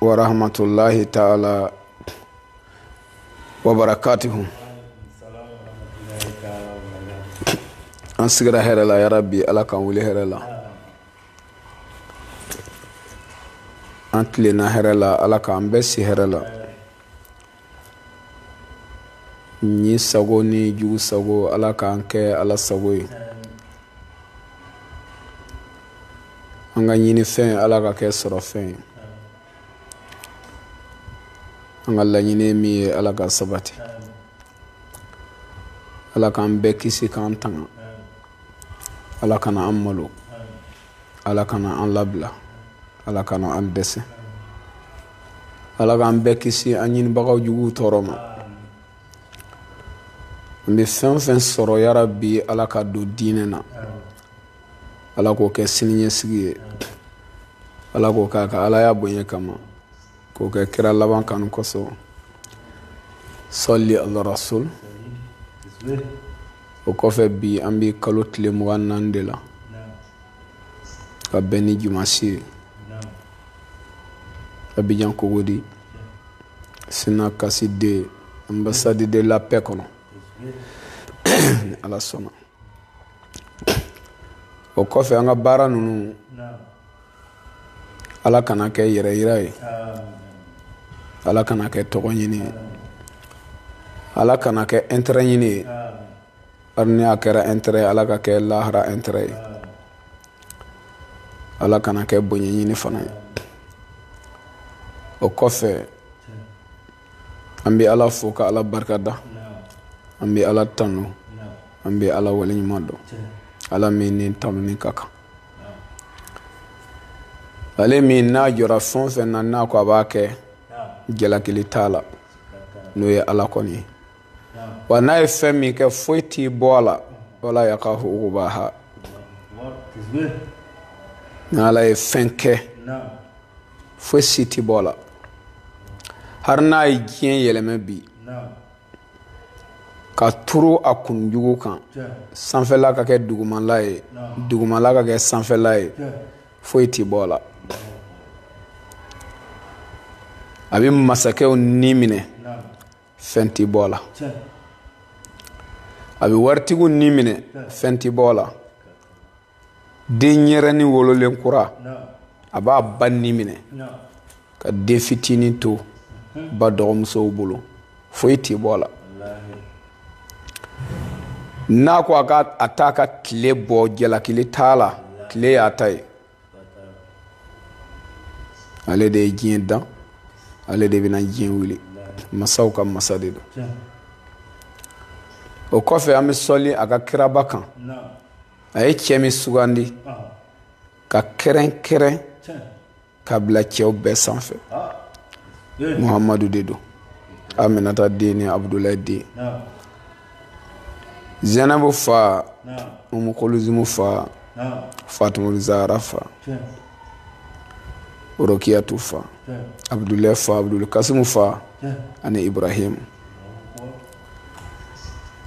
wa rahmatullahi ta'ala wa barakatuhu an sigira hɛrɛ la yarabi ala k'an wuli hɛrɛ la an tilenna hɛrɛ la ala k'an bɛɛ si hɛrɛ la ɲi sago ni jugu sago ala k'an kɛ ala sago ye an ka ɲini fɛn ala ka kɛ sɔrɔ fɛn ye an ka laɲini min ye ala ka sabati ala k'an bɛɛ kisi k'an tanga ala kana an malo ala kana an labila ala kana an dɛsɛ ala k'an bɛɛ kisi an ɲinibagaw juguw tɔɔrɔ ma n bɛ fɛn fɛn sɔrɔ yarabi ala ka don diinɛ na ala k'o kɛ siniɲɛsigi ye ala k'o kɛ a ka alaya bonya kama k'o kɛ kira laban kanu kosɔn salli ala rasul o kɔfɛ bi an bɛ kalo tile mugan naani de la ka bɛn ni jumasi ye abijan cocody sinakasi de ambassade de la paix kɔnɔ ni ala sɔnna o kɔfɛ an ka baara ninnu ala kana kɛ yɛrɛ yira ye ala kana kɛ tɔgɔ ɲini ye ala kana kɛ intérêt ɲini ye hari ni a kɛra intérêt ye ala ka kɛ lahara intérêt ye ala kana kɛ bonya ɲini fana ye o kɔfɛ an bɛ ala fo ka ala barika da an bɛ ala tanu an bɛ ala waleɲuman dɔn ala min ni tanuni ka kan ale min n'a jɔra fɛn fɛn na n'a ko a b'a kɛ jalakili t'a la n'o ye ala kɔni ye wa n'a ye fɛn min kɛ foyi ti bɔ a la wa la yakhafu uqbaha ni ala ye fɛn kɛ foyi si ti bɔ a la hari n'a ye diɲɛ yɛlɛmɛ bi ka turu a kunjugu kan sanfɛla ka kɛ dugumala ye dugumala ka kɛ sanfɛla ye foyi ti bɔ a la a bɛ masakɛw ni minɛ fɛn ti bɔ a la a bɛ waritigiw ni minɛ fɛn ti bɔ a la den ɲɛrɛni wololen kura a b'a ba ni minɛ ka den fitinin to ba dɔgɔmusow bolo foyi t'i bɔ a la n'a ko a t'a ka tile bɔ jalakili t'a la tile y'a ta ye ale de ye diɲɛ dan ale de bɛna diɲɛ wuli masaw ka masa de don o kɔfɛ an bɛ sɔli a ka kiraba kan a ye cɛ min sugandi ka kɛrɛnkɛrɛn ka bila cɛw bɛɛ sanfɛ muhamadu de don aminata den ni abudulayi den zɛnɛbu fa umukoluzimu fa fatumuli zahara fa rokiyatu fa abudulayi fa abuduli kasimu fa ani ibrahim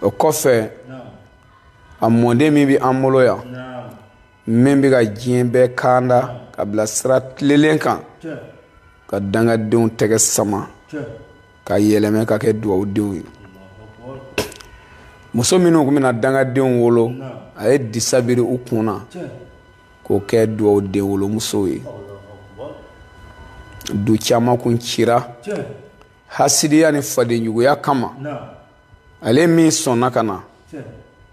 o kɔfɛ a mɔden min bɛ an bolo yan min bɛ ka diɲɛ bɛɛ kanda ka bila sira tilelen kan ka dangadenw tɛgɛ sama ka yɛlɛmɛ ka kɛ dugawudenw ye muso minnu tun bɛna dangadenw wolo a ye disa biri u kun na k'o kɛ dugawuden wolomusow ye du caman kun cira hasidiya ni fadenjuguya kama ale min sɔnna ka na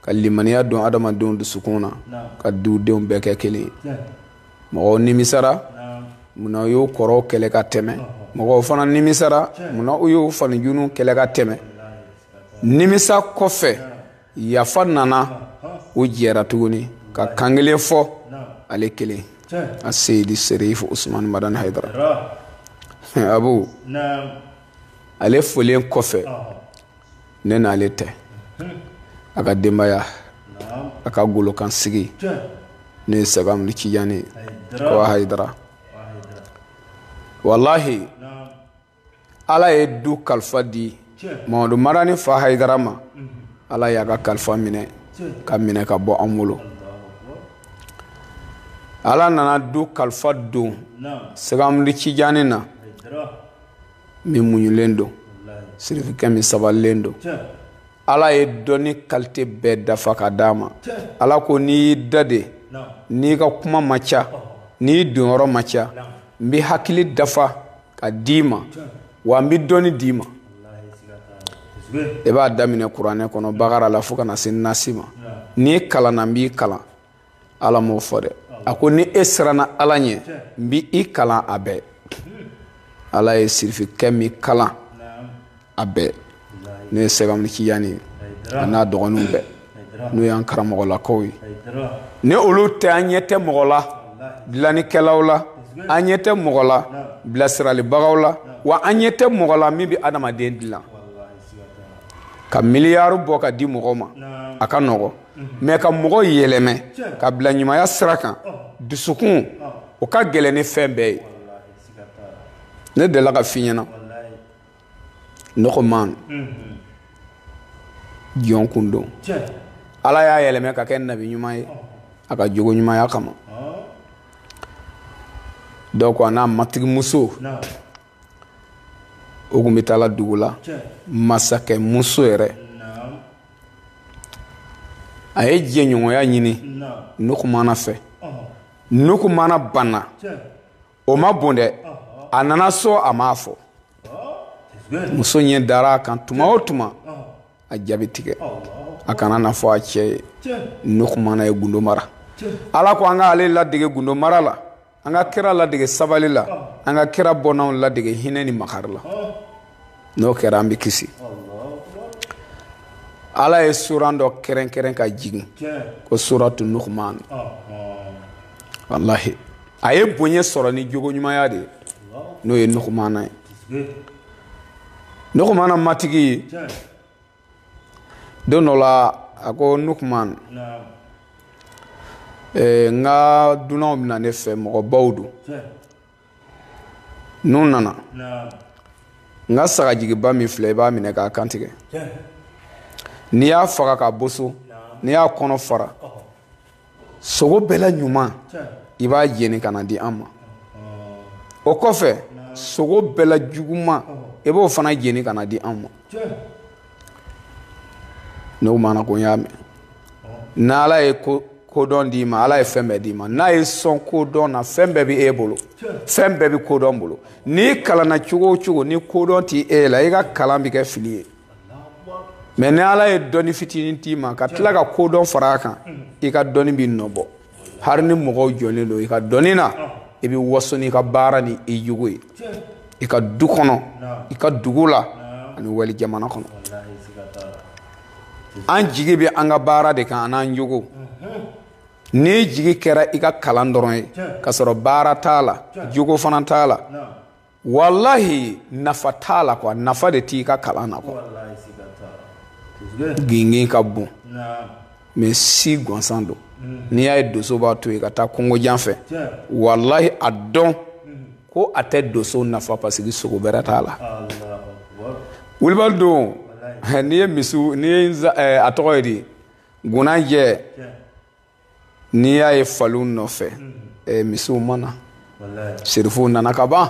ka limaniya don adamadenw dusukun na ka dudenw bɛɛ kɛ kelen mɔgɔw nimisara munna u y'o kɔrɔw kɛlɛ ka tɛmɛ mɔgɔw fana nimisara munna u y'o fanijunu kɛlɛ ka tɛmɛ nimisa kɔfɛ yafa nana u jɛra tuguni ka kankelen fɔ ale kelen a seyidi serifu usumani madani hayidara abu ale folen kɔfɛ ne n'ale tɛ a ka denbaya a ka golokansigi ne ye sɛgamadu cijan ye ko a hayidara walahi ala ye du kalifa di mamadu madani fa hayidara ma ala y'a ka kalifa minɛ ka minɛ ka bɔ an bolo ala nana du kalifa don sɛgamadu cijani na min muɲulen don sirifikɛ min sabalilen don ala ye dɔnni kalite bɛɛ dafa ka d'a ma ala ko n'i y'i da de n'i ka kuma ma ca n'i donyɔrɔ ma ca n bɛ hakili dafa ka d'i ma wa n bɛ dɔnni d'i ma i b'a daminɛ kuranɛ kɔnɔ bakara la fo ka na se nasi ma n'i kalanna n b'i kalan ala m'o fɔ dɛ a ko ni e siranna ala ɲɛ n bi i kalan a bɛɛ ala ye sirifikɛ min kalan a bɛɛ n'o ye sɛki amadi tijani ye a n'a dɔgɔninw bɛɛ n'o y'an karamɔgɔlakaw ye ni olu tɛ an ɲɛ tɛ mɔgɔ la dilannikɛlaw la an ɲɛ tɛ mɔgɔ la bilasiralibagaw la wa an ɲɛ tɛ mɔgɔ la min bɛ adamaden dilan ka miliyari bɔ ka di mɔgɔ ma a ka nɔgɔ mais ka mɔgɔ yɛlɛmɛ ka bila ɲumanya sira kan dusukun o ka gɛlɛn ni fɛn bɛɛ ye ne delila k'a f'i ɲɛna nukuman jɔn kun don ala y'a yɛlɛmɛ ka kɛ nabi ɲuman ye a ka jogo ɲumanya kama donc a n'a matigi muso o kun bɛ taala dugu la masakɛ muso yɛrɛ a ye jɛɲɔgɔnya ɲini nukumana fɛ nukumana banna o ma bon dɛ a nana so a m'a fɔ muso ɲɛ dara a kan tuma o tuma a ja bi tigɛ a kana na fɔ a cɛ ye nukumana ye gundo mara ala ko an k'ale ladege gundo mara la an ka kira ladege sabali la an ka kira bɔnnaw ladege hinɛ ni makari la n'o kɛra an bɛ kisi ala ye suran dɔ kɛrɛnkɛrɛn ka jigin ko suratu nukuman walahi a ye bonya sɔrɔ ni jogo ɲumanya de ye n'o ye nukumana ye nukumana matigi ye don dɔ la a ko nukuman eh, n ka dunanw bɛ na ne fɛ mɔgɔbaw don n'u nana n ka sagajigiba min filɛ i b'a minɛ k'a kantigɛ n'i y'a faga k'a boso n'i y'a kɔnɔ fara sogo bɛɛ la ɲuman i b'a jeni ka na di an ma o kɔfɛ sogo bɛɛ la juguman i b'o fana jeni ka na di an ma nukumana ko n y'a mɛn n'ala ye kodɔn d'i ma ala ye fɛn bɛɛ d'i ma n'a y'i sɔn kodɔn na fɛn bɛɛ bɛ e bolo fɛn bɛɛ bɛ kodɔn bolo n'i kalanna cogo o cogo ni kodɔn tɛ e la i ka kalan bɛ kɛ fili ye mais ni ala ye dɔnni fitinin d'i ma ka tila ka kodɔn fara a kan i ka dɔnni b'i nɔbɔ hari ni mɔgɔw jɔnlen don i ka dɔnni na i bɛ waso n'i ka baara ni i jogo ye i ka du kɔnɔ i ka dugu la ani wali jamana kɔnɔ an jigi bɛ an ka baara de kan an'an jogo n'i jigi kɛra i ka kalan dɔrɔn ye ka sɔrɔ baara t'a la jogo fana t'a la walahi nafa t'a la kuwa nafa de t'i ka kalan na kuwa gingin ka bon mɛ si gansan don mm. n'i y'a ye doso b'a to yen ka taa kungojan fɛ walahi a dɔn mm. ko a tɛ doso nafa pasiki sogo bɛrɛ t'a la wulibali don n'i ye misiw n'i ye eh, a tɔgɔ ye di gunanjɛ n'i y'a ye faliw nɔfɛ eh, misiw ma na sirifuw nana ka ban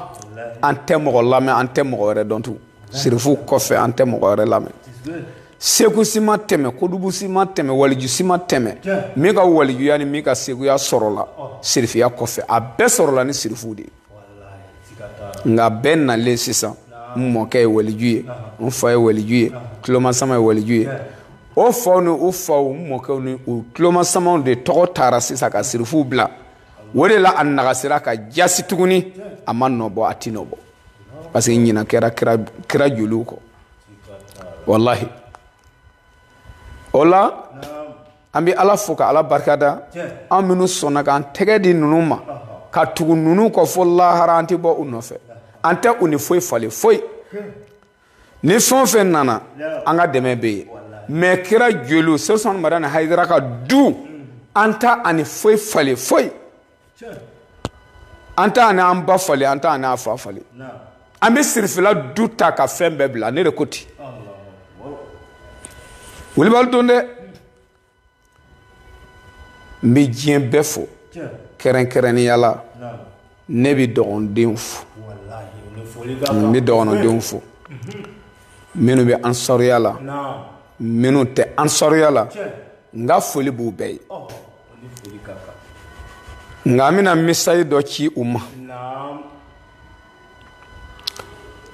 an tɛ mɔgɔ lamɛn an tɛ mɔgɔ wɛrɛ dɔn tugun sirifuw kɔfɛ an tɛ mɔgɔ wɛrɛ lamɛn segu si ma tɛmɛ kodubu si ma tɛmɛ waliju si ma tɛmɛ min ka walijuya ni min ka seguya sɔrɔla sirifuya kɔfɛ a bɛɛ sɔrɔla ni sirifuw de ye nka bɛɛ nalen sisan n mɔkɛ ye waliju ye n fa ye waliju ye tulomasama ye waliju ye o faw ni u faw n mɔkɛw ni u tulomasamaw de tɔgɔ taara sisan ka sirifuw bila o de la a nagasira ka jasi tuguni a ma nɔbɔ a ti nɔbɔ parce que ɲina kɛra kira joliw kɔ walahi o la an bɛ ala fo ka ala barikada an minnu sɔnna k'an tɛgɛ di ninnu ma ka tugu ninnu kɔ fo lahara an tɛ bɔ u nɔfɛ an tɛ u ni foyi falen foyi ni fɛn o fɛn nana an ka dɛmɛ bɛ yen mɛ kira joliw sɛrifu usumani madani hayidara ka du an t'a ni foyi falen foyi an t'a n'an ba falen an t'a n'a fa falen an bɛ sirifila du ta ka fɛn bɛɛ bila ne de ko ten wulibali don dɛ n bɛ diɲɛ bɛɛ fo kɛrɛnkɛrɛnnenya la ne bɛ dɔgɔndenw fo n bɛ dɔgɔndenw fo minnu bɛ ansaruya la minnu tɛ ansaruya la n ka foli b'u bɛɛ ye nka an bɛna misasi dɔ ci u ma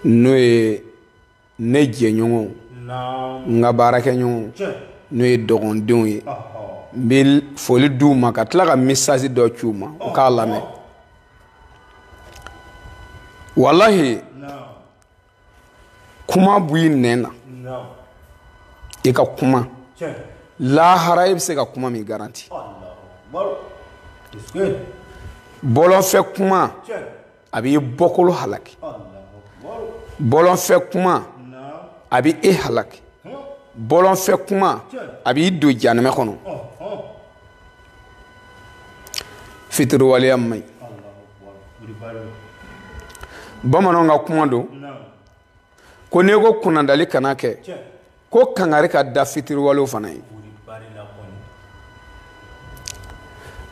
n'o ye ne jɛɲɔgɔnw n ka baarakɛɲɔgɔnw n'o ye dɔgɔndenw ye n bɛ foli di u ma ka tila ka misasi dɔ ci u ma u k'a lamɛn walahi kuma bɔ i nɛn na i ka kuma lahara i bɛ se ka kuma min garanti bɔlɔnfɛ kuma a b'i bɔkolo halaki bɔlɔnfɛ kuma a bɛ e halaki bɔlɔnfɛ kuma a b'i don jahanama kɔnɔ fitiriwaleya man ɲi bamananw ka kuma don ko n'i ko kunnadali kana kɛ ko kangari ka da fitiriwalew fana ye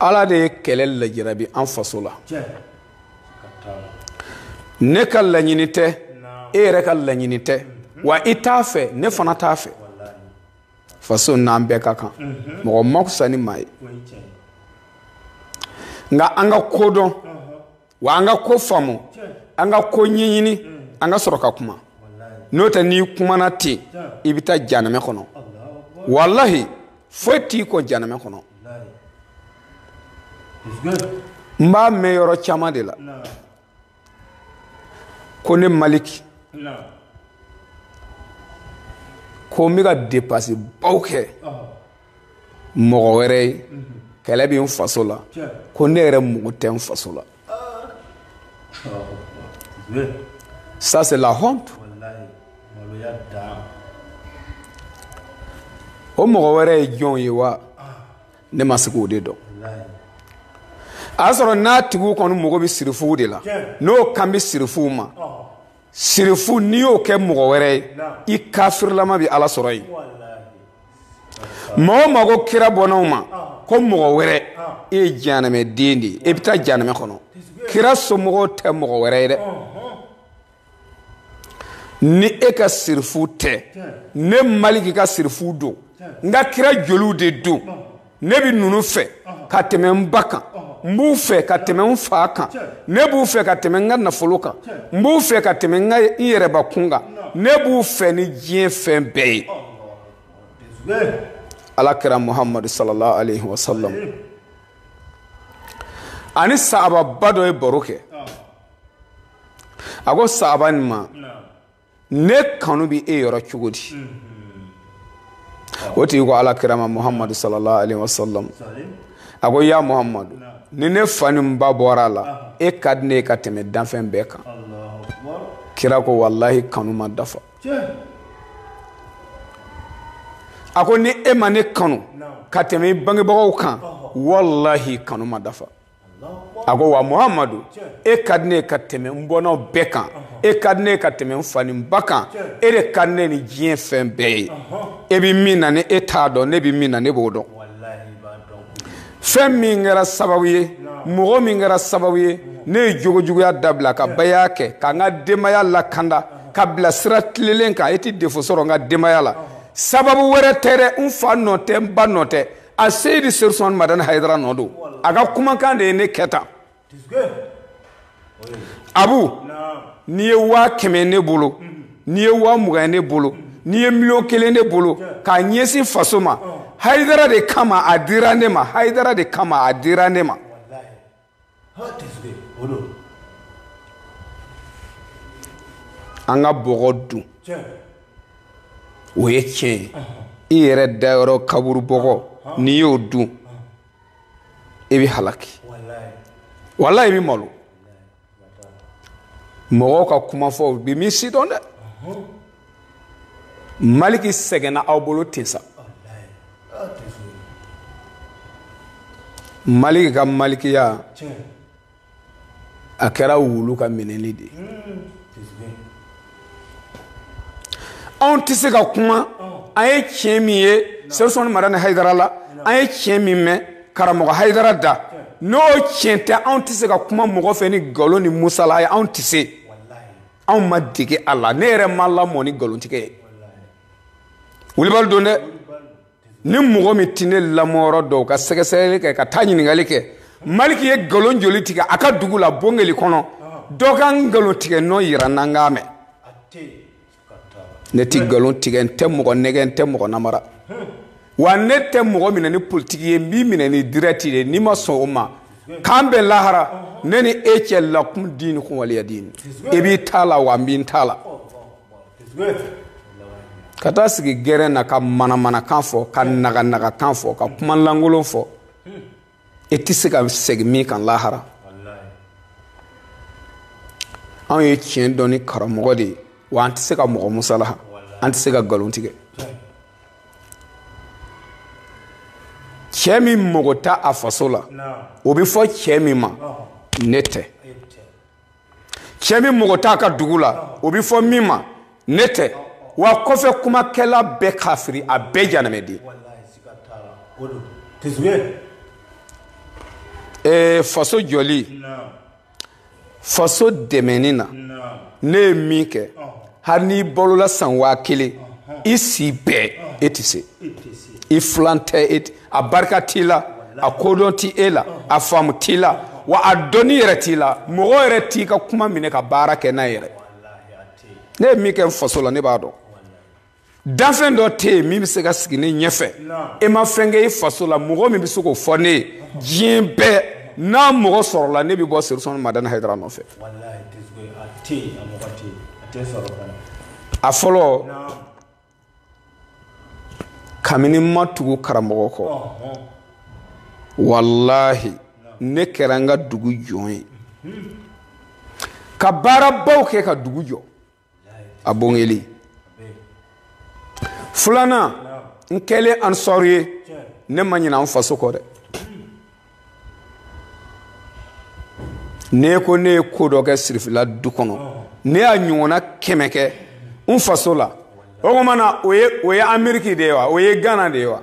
ala de ye kɛlɛ lajarabi an faso la ne ka laɲini tɛ e yɛrɛ ka laɲini tɛ wa i t'a fɛ ne fana t'a fɛ faso n'an bɛɛ ka kan mhm. mɔgɔ ma fisa ni maa ye nka an ka ko dɔn wa an ka ko faamu an ka ko ɲɛɲini mm. an ka sɔrɔ ka kuma n'o tɛ n'i kumana ten i bɛ taa janamɛ kɔnɔ walahi foyi t'i kɔn janamɛ kɔnɔ n b'a mɛn yɔrɔ caman de la ko ne maliki ko n bɛ ka depansi baw kɛ mɔgɔ wɛrɛ ye kɛlɛ bɛ n faso la ko ne yɛrɛ mago tɛ n faso la ça c'est la honte o mɔgɔ wɛrɛ ye jɔn ye wa ne ma se k'o de dɔn a y'a sɔrɔ n'a tigiw kɔni mago bɛ sirifuw de la n'o kan bɛ sirifuw ma sirifu n'i y'o kɛ mɔgɔ wɛrɛ ye i kafirilama bɛ ala sɔrɔ yen maa o maa ko kira bɔnnaw ma ko mɔgɔ wɛrɛ e ye janamɛ den de ye e bɛ taa janamɛ kɔnɔ kira somɔgɔw tɛ mɔgɔ wɛrɛ ye dɛ ni e ka sirifu tɛ ne maliki ka sirifu don n ka kira joliw de don ne bɛ ninnu fɛ ka tɛmɛ n ba kan n b'u fɛ ka tɛmɛ n fa kan ne b'u fɛ ka tɛmɛ n ka nafolo kan n b'u fɛ ka tɛmɛ n yɛrɛbakun kan ne b'u fɛ ni diɲɛ fɛn bɛɛ ye ala kira muhamadu sallallahu alaihi wa sallam ani sahababa dɔ ye baro kɛ a ko sahaba nin ma ne kanu bɛ e yɔrɔ cogo di o tigi ko ala kira ma muhamadu sallallahu alaihi wa sallam a ko ya muhamadu ni ne fa ni n ba bɔra a la e ka di ne ye ka tɛmɛ danfɛn bɛɛ kan kira ko walahi kanu ma dafa a ko ni e ma ne kanu ka tɛmɛ i bangebagaw kan walahi kanu ma dafa a ko wa muhamadu e ka di ne ye ka tɛmɛ n bɔnnaw bɛɛ kan e ka di ne ye ka tɛmɛ n fa ni n ba kan e de ka di ne ni diɲɛ fɛn bɛɛ ye e bɛ min na ni e t'a dɔn ne bɛ min na ne b'o dɔn fɛn min kɛra sababu ye mɔgɔ min kɛra sababu ye ne ye jogojuguya dabila ka baya kɛ ka n ka denbaya lakanda ka bila sira tilelen kan e tɛ defo sɔrɔ n ka denbaya la sababu wɛrɛ tɛ dɛ n fa nɔ tɛ n ba nɔ tɛ a seyidi serifu usumani madani hayidara nɔ don a ka kumakan de ye ne kɛ tan abu n'i ye waa kɛmɛ ne bolo mm-hmm. n'i ye waa mugan ye ne bolo mm-hmm. n'i ye miliyɔn kelen ne bolo k'a ɲɛsin faso ma oh. hayidara de kama a dira ne ma hayidara de kama a dira ne ma an ka bɔgɔ dun o ye tiɲɛ ye i yɛrɛ dayɔrɔ kaburu bɔgɔ n'i y'o dun i bɛ halaki wala i bɛ malo mɔgɔw ka kuma fɔ i bɛ min sidɔn dɛ maliki sɛgɛnna aw bolo ten sa maliki ka malikiya a kɛra wulu ka minɛli de anw tɛ se ka kuma an ye tiɲɛ min ye sɛrifu usumani madani hayidara la an ye tiɲɛ min mɛn karamɔgɔ hayidara da n'o tiɲɛ tɛ anw tɛ se ka kuma mɔgɔ fɛ ni nkalon ni musalaha ye anw tɛ se anw ma dege a la ne yɛrɛ ma lamɔ ni nkalontigɛ ye wulibali don dɛ ni mɔgɔ min tɛ ne lamɔyɔrɔ dɔn o ka sɛgɛsɛgɛli kɛ ka taa ɲininkali kɛ maliki ye nkalon joli tigɛ a ka dugu la bongeli kɔnɔ dɔ ka nkalon tigɛ nɔ yira n na n k'a mɛn ne tɛ nkalon tigɛ n tɛ mɔgɔ nɛgɛn n tɛ mɔgɔ namara wa ne tɛ mɔgɔ minɛ ni politiki ye n b'i minɛ ni dirɛti de n'i ma sɔn o ma k'an bɛn lahara ne ni e cɛ lakum diinukum waliya diini e b'i ta la wa n bɛ n ta la ka taa sigi gɛrɛn na ka manamanakan fɔ ka naganagakan fɔ ka kumalankolon fɔ e tɛ se ka segin min kan lahara anw ye tiɲɛ dɔn ni karamɔgɔ de ye wa an tɛ se ka mɔgɔ musalaha an tɛ se ka nkalon tigɛ cɛ min mago t'a faso la o bɛ fɔ cɛ min ma ne tɛ cɛ min mago t'a ka dugu la o bɛ fɔ min ma ne tɛ wa kɔfɛ kumakɛla bɛɛ kafiri a bɛɛ janamɛden ee faso jɔli faso dɛmɛni na ne ye min kɛ hali n'i balola san waa kelen i si bɛɛ e tɛ se i filan tɛ e a barika t'i la a kodɔn tɛ e la a faamu t'i la wa a dɔnni yɛrɛ t'i la mɔgɔ yɛrɛ t'i ka kuma minɛ ka baara kɛ n'a yɛrɛ ne ye min kɛ n faso la ne b'a dɔn danfɛn dɔ tɛ yen min bɛ se ka sigi ne ɲɛfɛ e ma fɛn kɛ i faso la mɔgɔ min bɛ se k'o fɔ ne ye diɲɛ bɛɛ n'a mɔgɔ sɔrɔla ne bɛ bɔ serifu usumani madani hayidara nɔfɛ a fɔlɔ kabini n ma tugu karamɔgɔ kɔ walahi ne kɛra n ka dugu jɔn ye ka baarabaw kɛ ka dugu jɔ a bongeli filanan n kɛlen ansari ye ne ma ɲina n faso kɔ dɛ ni e ko ne ye ko dɔ kɛ sirifila du kɔnɔ ne y'a ɲɔgɔnna kɛmɛ kɛ n faso la o kuma na o ye ameriki de ye wa o ye gana de ye wa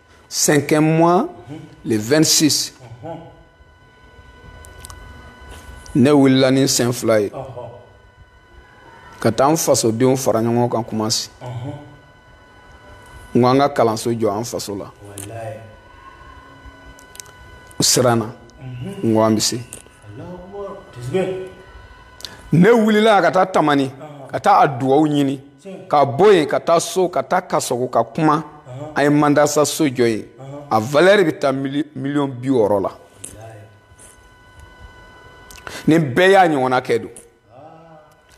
Cinquième mois, le 26. Ne wulila ni n sen fila ye ka taa an fasodenw fara ɲɔgɔn kan kumasi n ko an ka kalanso jɔ an faso la u siranna n ko an bɛ se ne wulila ka taa tamani ka taa a dugawu ɲini ka bɔ yen ka taa so ka taa kasɔgu ka kuma an ye mandasa so jɔ yen a valɛri bɛ taa miliyɔn bi wɔɔrɔ la ni bɛɛ y'a ɲɔgɔnna kɛ don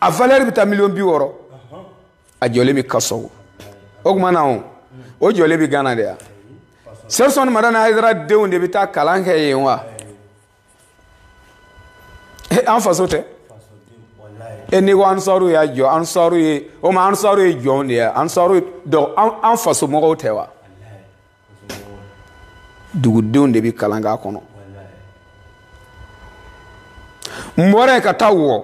a valɛri bɛ taa miliyɔn bi wɔɔrɔ a jɔlen bɛ kasɔgu o kuma na o jɔlen bɛ gana de ya serifu usumani madani hayidara denw de bɛ taa kalan kɛ yen wa. an faso tɛ e n'i ko ansariw y'a jɔ ansariw ye o tuma ansariw ye jɔnw de ye ansariw donc an faso mɔgɔw tɛ wa dugudenw de bɛ kalan k'a kɔnɔ n bɔra yen ka taa wɔ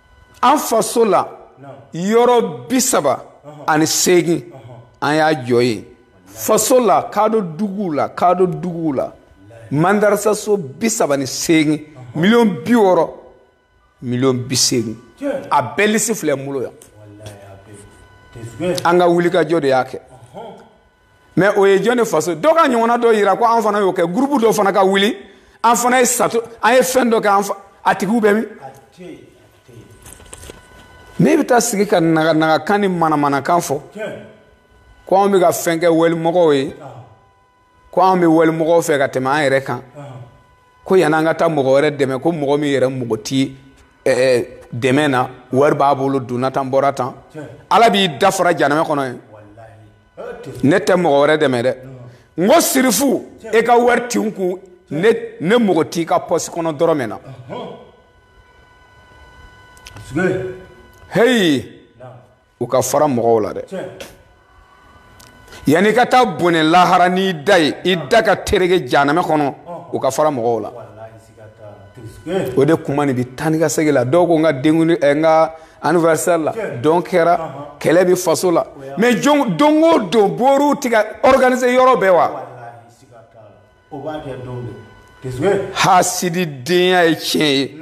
an faso la yɔrɔ bi saba ani seegin an y'a jɔ yen faso la kaado duguw la kaado duguw la mandarasaso bi saba ni seegin miliyɔn bi wɔɔrɔ miliyɔn bi seegin a bɛɛ lisi filɛ n bolo yan an ka wulikajɔ de y'a kɛ mɛ o ye jɔn de faso dɔ k'a ɲɔgɔnna dɔ yira ko an fana y'o kɛ gurupu dɔ fana ka wuli an fana ye sato an ye fɛn dɔ kɛ a tigiw bɛ min n'i bɛ taa sigi ka naganagakan ni manamanakan fɔ ko anw bɛ ka fɛn kɛ walimɔgɔw ye ko anw bɛ walimɔgɔw fɛ ka tɛmɛ an yɛrɛ kan ko yanni an ka taa mɔgɔ wɛrɛ dɛmɛ ko mɔgɔ min yɛrɛ mɔgɔ ti dɛmɛ na wari b'a bolo donna tan bɔra tan ala b'i da fara janamɛ kɔnɔ yen ne tɛ mɔgɔ wɛrɛ dɛmɛ dɛ n ko sirifu e ka wari ti n kun ne mago t'i ka pɔsi kɔnɔ dɔrɔmɛ na heyi u ka fara mɔgɔw la dɛ yanni i ka taa bɔnɛ lahara n'i da ye i da ka tereke janamɛ kɔnɔ u ka fara mɔgɔw la o de kuma nin bi taa ni ka segin la dɔw ko n ka denkunli ɛ eh, n ka anniversaire la dɔn kɛra kɛlɛ bi faso la mais don o don boriw ti ka organiser yɔrɔ bɛɛ wa hasidi denya ye tiɲɛ ye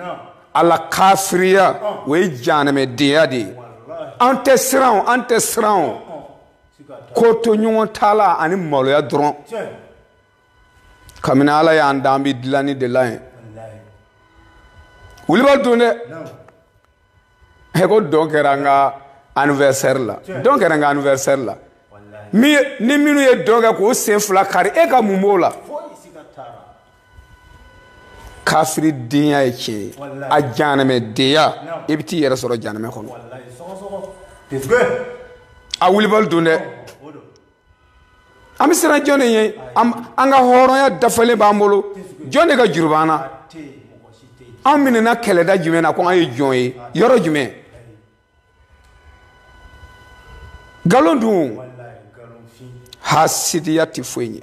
ala kafiriya o ye janamɛ denya de ye an tɛ siran o an tɛ siran o kotoɲɔgɔntala ani maloya dɔrɔn kabini ala y'an da an bɛ dilanni de la yen wulibali don dɛ ɛ ko dɔn kɛra n ka anniversaire la dɔn kɛra n ka anniversaire la ni minnu ye dɔn kɛ k'o sen fila kari e ka mun b'o la kafiri denya ye tiɲɛ ye a janamɛ denya i bɛ t'i yɛrɛ sɔrɔ janamɛ kɔnɔ a wulibali don dɛ an bɛ siran jɔn de ɲɛ an ka hɔrɔnya dafalen b'an bolo jɔn de ka juru b'an na an minɛna kɛlɛda jumɛn na ko an ye jɔn ye yɔrɔ jumɛn nkalon don hasidiya tɛ foyi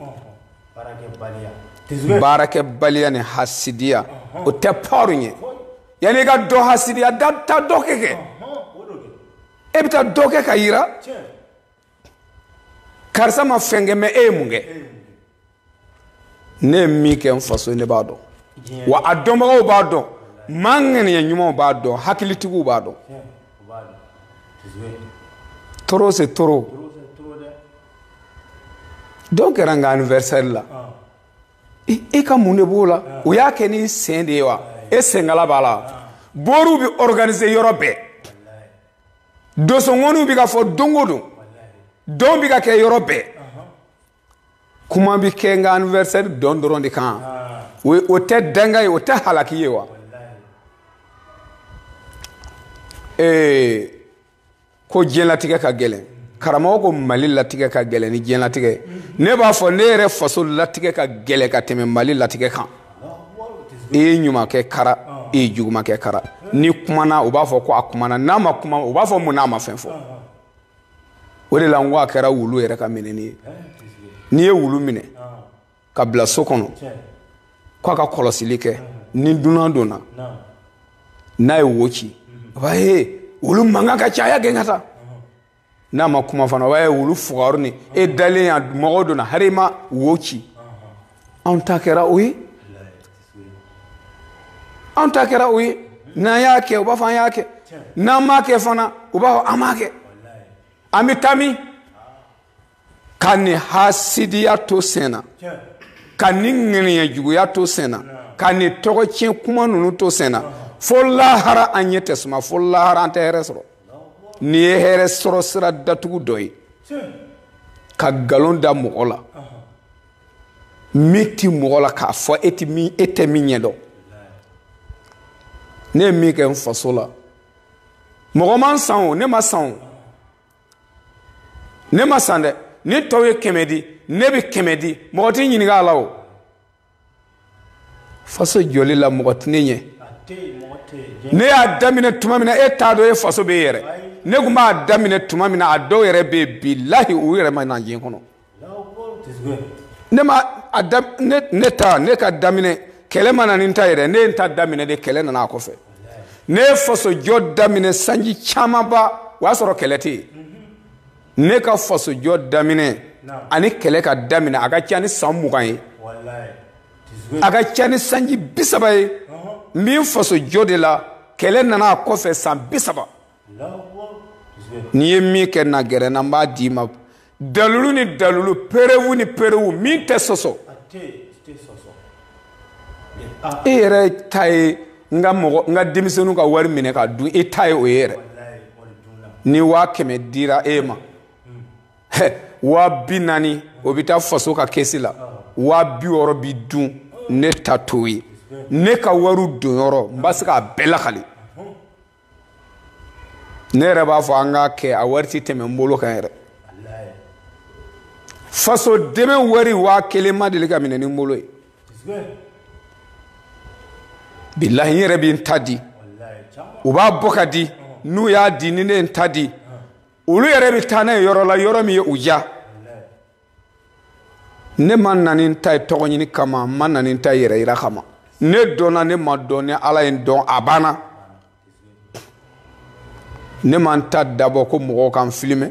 ɲɛ baarakɛbaliya ni hasidiya o tɛ pɔri ɲɛ yanni i ka dɔ hasidiya da taa dɔ kɛ kɛ e bɛ taa dɔ kɛ ka yira karisa ma fɛn kɛ mais e ye mun kɛ ne ye min kɛ n faso ye ne b'a dɔn wa a dɔnbagaw b'a dɔn maa ŋaniya ɲumanw b'a dɔn hakilitigiw b'a dɔn trop c'est trop dɔn kɛra n ka anniversaire la ah. e ka mun de b'o la ah. o y'a kɛ n'i sen de ye wa e senkala b'a la ah. boriw bɛ organiser yɔrɔ bɛɛ dosonŋɔniw bɛ ka fɔ don o don dɔn bɛ ka kɛ yɔrɔ bɛɛ kuma bɛ kɛ n ka anniversaire dɔn dɔrɔn de kan o tɛ danga ye o tɛ halaki ye wa ee ko diɲɛlatigɛ ka gɛlɛn karamɔgɔ ko mali latigɛ ka gɛlɛn ni diɲɛlatigɛ ne b'a fɔ ne yɛrɛ faso latigɛ ka gɛlɛn ka tɛmɛ mali latigɛ kan i ye ɲuman kɛ kara i ye juguman kɛ kara n'i kumana u b'a fɔ ko a kumana n'a ma kuma u b'a fɔ mun na a ma fɛn fɔ o de la n ko a kɛra wulu yɛrɛ ka minɛni ye n'i ye wulu minɛ ka bila so kɔnɔ k'a ka kɔlɔsili kɛ ni dunan donna n'a ye wo ci a b'a ye wulu mankan ka ca a y'a gɛn ka taa n'a ma kuma fana o b'a ye wulu fugari ni e dalen yan mɔgɔ donna hari i ma wo ci anw ta kɛra o ye anw ta kɛra o ye n'an y'a kɛ u b'a fɔ an y'a kɛ n'an m'a kɛ fana u b'a fɔ an m'a kɛ an bɛ taa min ka nin hasidiya to sen na ka nin ŋɛniya juguya to sen na ka nin tɔgɔ tiɲɛ kuma ninnu to sen na fo lahara an ɲɛ tɛ suma fo lahara an tɛ hɛrɛ sɔrɔ nin ye hɛrɛ sɔrɔ sira datugu dɔ ye ka nkalon da mɔgɔ la min tɛ mɔgɔ la k'a fɔ e tɛ min ɲɛ dɔn ne ye min kɛ n faso la mɔgɔ ma n san o ne ma san o ne ma san dɛ ni tɔw ye kɛmɛ di ne bɛ kɛmɛ di mɔgɔ t'i ɲininka a la o faso jɔli la mɔgɔ tɛ ne ɲɛ ne y'a daminɛ tuma min na e t'a dɔn e faso bɛ yɛrɛ ne tun b'a daminɛ tuma min na a dɔw yɛrɛ bɛ yen bilahi u yɛrɛ ma na diɲɛ kɔnɔ ne ma a da ne ne ta ne ka daminɛ kɛlɛ ma na ni n ta yɛrɛ ne ye n ta daminɛ de kɛlɛ nana a kɔfɛ ne ye fasojɔ daminɛ sanji camanba o y'a sɔrɔ kɛlɛ tɛ yen ne ka fasojɔ daminɛ ani kɛlɛ ka daminɛ a ka ca ni san mugan ye a ka ca ni sanji bi saba ye n bɛ n fasojɔ de la kɛlɛ nana a kɔfɛ san bi saba ne ye min kɛ na gɛrɛ n na n b'a d'i ma dalulu ni dalulu perewu ni perewu min tɛ sɔsɔ e yɛrɛ ta ye n ka mɔgɔ n ka denmisɛnninw ka wari minɛ ka dun e ta ye o ye yɛrɛ ni waa kɛmɛ dira e ma waa bi naani o bɛ taa faso ka kɛsi la waa bi wɔɔrɔ bɛ dun ne ta t'o ye ne ka wariw donyɔrɔ n b'a se k'a bɛɛ lakali ne yɛrɛ b'a fɔ an k'a kɛ a wari tɛ tɛmɛ n bolo kan yɛrɛ faso dɛmɛ wari waa kelen ma deli ka minɛ ni n bolo ye bilahi n yɛrɛ bɛ n ta di u b'a bɔ ka di n'u y'a di ni ne ye n ta di olu yɛrɛ bɛ taa n'a ye yɔrɔ la yɔrɔ min ye u diya ne ma na ni n ta ye tɔgɔ ɲini kama n ma na ni n ta ye yɛrɛ yira kama ne dɔnna ne ma dɔn ni ala ye n dɔn a banna ne ma n ta dabɔ ko mɔgɔw ka n filime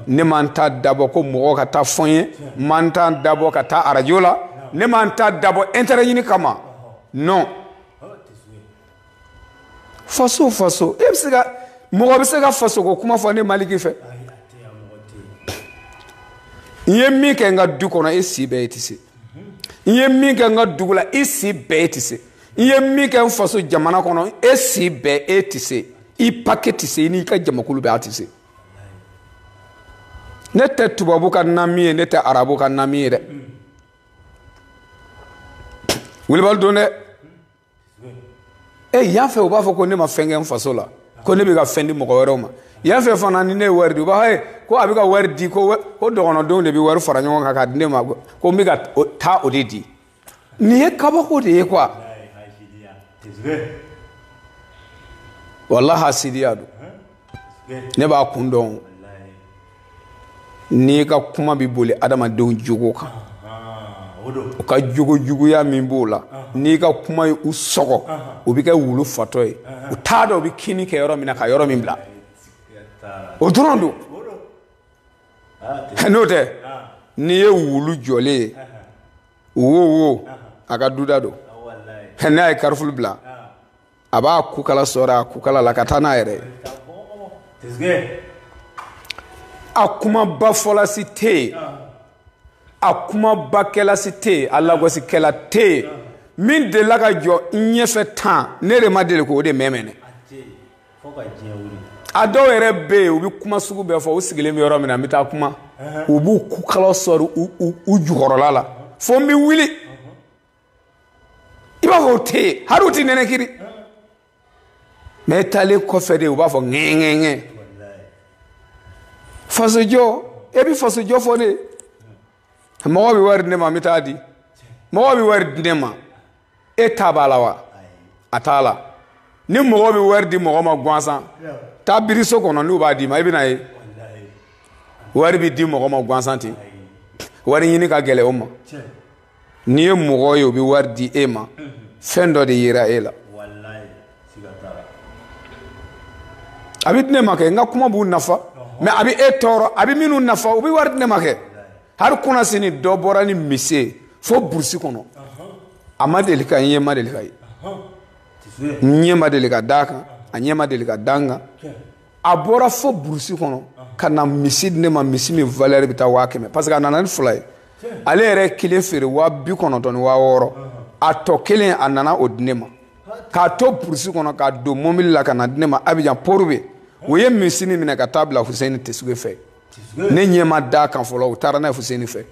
ne ma n ta dabɔ ko mɔgɔw ka taa fɔ n ye n ma n ta dabɔ ka taa arajo la ne ma n ta dabɔ intérêt ɲini kama non faso faso e bɛ se ka mɔgɔ bɛ se ka faso ko kuma fɔ ne maliki fɛ n ye min kɛ n ka du kɔnɔ e si bɛɛ e tɛ se n ye min kɛ n ka dugu la e si bɛɛ e tɛ se n ye min kɛ n faso jamana kɔnɔ e si bɛɛ e tɛ se i pake tɛ se i n'i ka jamakulu bɛɛ a tɛ se ne tɛ tubabu ka nami ye ne tɛ arabu ka nami ye dɛ wilibali don dɛ e yan fɛ u b'a fɔ ko ne ma fɛn kɛ n faso la ko ne bɛ ka fɛn di mɔgɔ wɛrɛw ma yan fɛ fana ni ne ye wari di u b'a fɔ ko a bɛ ka wari di ko ko dɔgɔnɔdenw de bɛ wari fara ɲɔgɔn kan k'a di ne ma ko n bɛ ka taa o de di nin ye kabako de ye quoi walahi hasidiya don ne b'a kun dɔn n'i ka kuma bɛ boli adamadenw jogo kan u ka jogo juguya min b'o la n'i ka kuma ye u sɔgɔ u bɛ kɛ wulu fatɔ ye u t'a dɔn u bɛ kinni kɛ yɔrɔ min na ka yɔrɔ min bila o dɔrɔn don n'o tɛ n'i ye wulu jɔlen ye wo wo a ka duda don n'a ye karifulu bila a b'a kukala sɔɔrɔ a kukala la ka taa n'a yɛrɛ ye a kumabafɔla si tɛ yen a kumabakɛla si tɛ yen a lagosikɛla tɛ yen min delila ka jɔ n ɲɛfɛ tan ne de ma deli k'o de mɛmɛnɛ a dɔw yɛrɛ bɛ yen u bɛ kuma sugu bɛɛ fɔ u sigilen bɛ yɔrɔ min na n bɛ taa kuma u b'u kukala sɔɔrɔ u jukɔrɔla la fo n bɛ wuli i b'a fɔ u tɛ yen hali u tɛ nɛnɛkiri mɛ i taalen kɔfɛ de u b'a fɔ ŋɛŋɛŋɛ fasojɔ e bɛ fasojɔ fɔ ne mɔgɔ bɛ wari di ne ma n bɛ t'a di mɔgɔ bɛ wari di ne ma e ta b'a la wa a t'a la ni mɔgɔ bɛ wari di mɔgɔ ma gansan taa biri so kɔnɔ n'u b'a d'i ma i bɛn'a ye wari bɛ di mɔgɔ ma gansan ten wari ɲini ka gɛlɛn o ma. n'i ye mɔgɔ ye o bɛ wari di e ma fɛn dɔ de yera e la a bɛ di ne ma kɛ n ka kuma b'u nafa mɛ a bɛ e tɔɔrɔ a bɛ minnu nafa u bɛ wari di ne ma kɛ hali kunasini dɔ bɔra ni misi ye fo burusi kɔnɔ a ma deli ka n ye n ma deli k'a ye n ɲɛ ma deli ka d'a kan a ɲɛ ma deli ka da n kan a bɔra fo burusi kɔnɔ ka na misi di ne ma misi min valɛri bɛ taa waa kɛmɛ parce que a nana ni fila ye ale yɛrɛ kelen feere waa bi kɔnɔntɔn ni waa wɔɔrɔ a tɔ kelen a nana o di ne ma k'a to burusi kɔnɔ k'a don mobili la ka n'a di ne ma abijan port-bouët o ye misi nin minɛ ka taa bila huseni tesuge fɛ ne ɲɛ ma d'a kan fɔlɔ u taara n'a ye huseni fɛ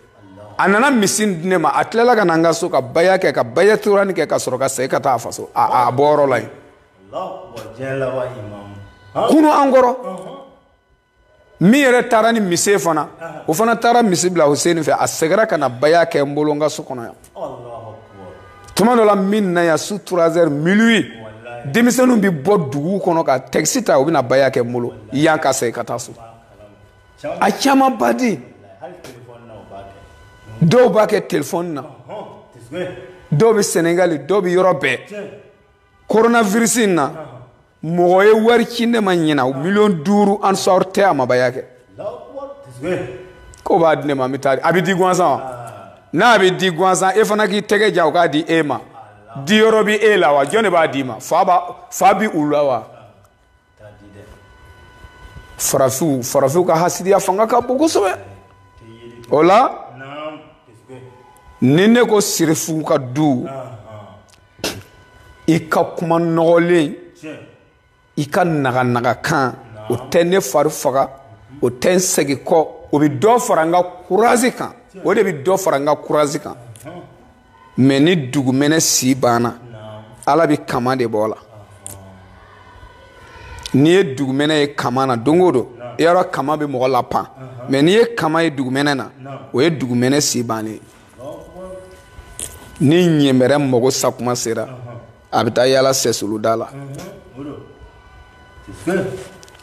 a nana misi di ne ma a tilala ka na n ka so ka baya kɛ ka baya torani kɛ ka sɔrɔ ka segin ka taa a faso a bɔyɔrɔ la yen kunun an kɔrɔ min yɛrɛ taara ni misi ye fana o fana taara misi bila huseni fɛ a segira ka na baya kɛ n bolo n ka so kɔnɔ yan tuma dɔ la min na yan su turazɛri minuwi denmisɛnninw bɛ bɔ dugu kɔnɔ ka takisi ta u bɛ na baya kɛ n bolo yan ka segin ka taa so a caman ba di dɔw b'a kɛ telefɔni na dɔw bɛ senegali dɔw bɛ yɔrɔ bɛɛ koronavirisi in na mɔgɔ ye wari ci ne ma ɲinan miliyɔn duuru ansari tɛ a ma baya kɛ k'o b'a di ne ma n bɛ taa a bɛ di gansan wa n'a bɛ di gansan e fana k'i tɛgɛ ja o k'a di e ma diyɔrɔ bɛ e la wa jɔn de b'a d'i ma fa bi u la wa farafinw farafinw ka hasidiya fanga ka bon kosɛbɛ o la ni ne ko sirifu ka du i ka kuma nɔgɔlen i ka naganaga kan o tɛ ne fari faga o tɛ n segin kɔ o bɛ dɔ fara n ka kurazi kan o de bɛ dɔ fara n ka kurazi kan mɛ ni dugumɛnɛ si banna ala bɛ kama de bɔ a la n'i ye dugumɛnɛ ye kama na don o don yɔrɔ kama bɛ mɔgɔ lapan mɛ n'i ye kama ye dugumɛnɛ na o ye dugumɛnɛ si bannen ye ni ɲɛmɛrɛ mago sa tuma sera a bɛ taa yaala sɛsulu da la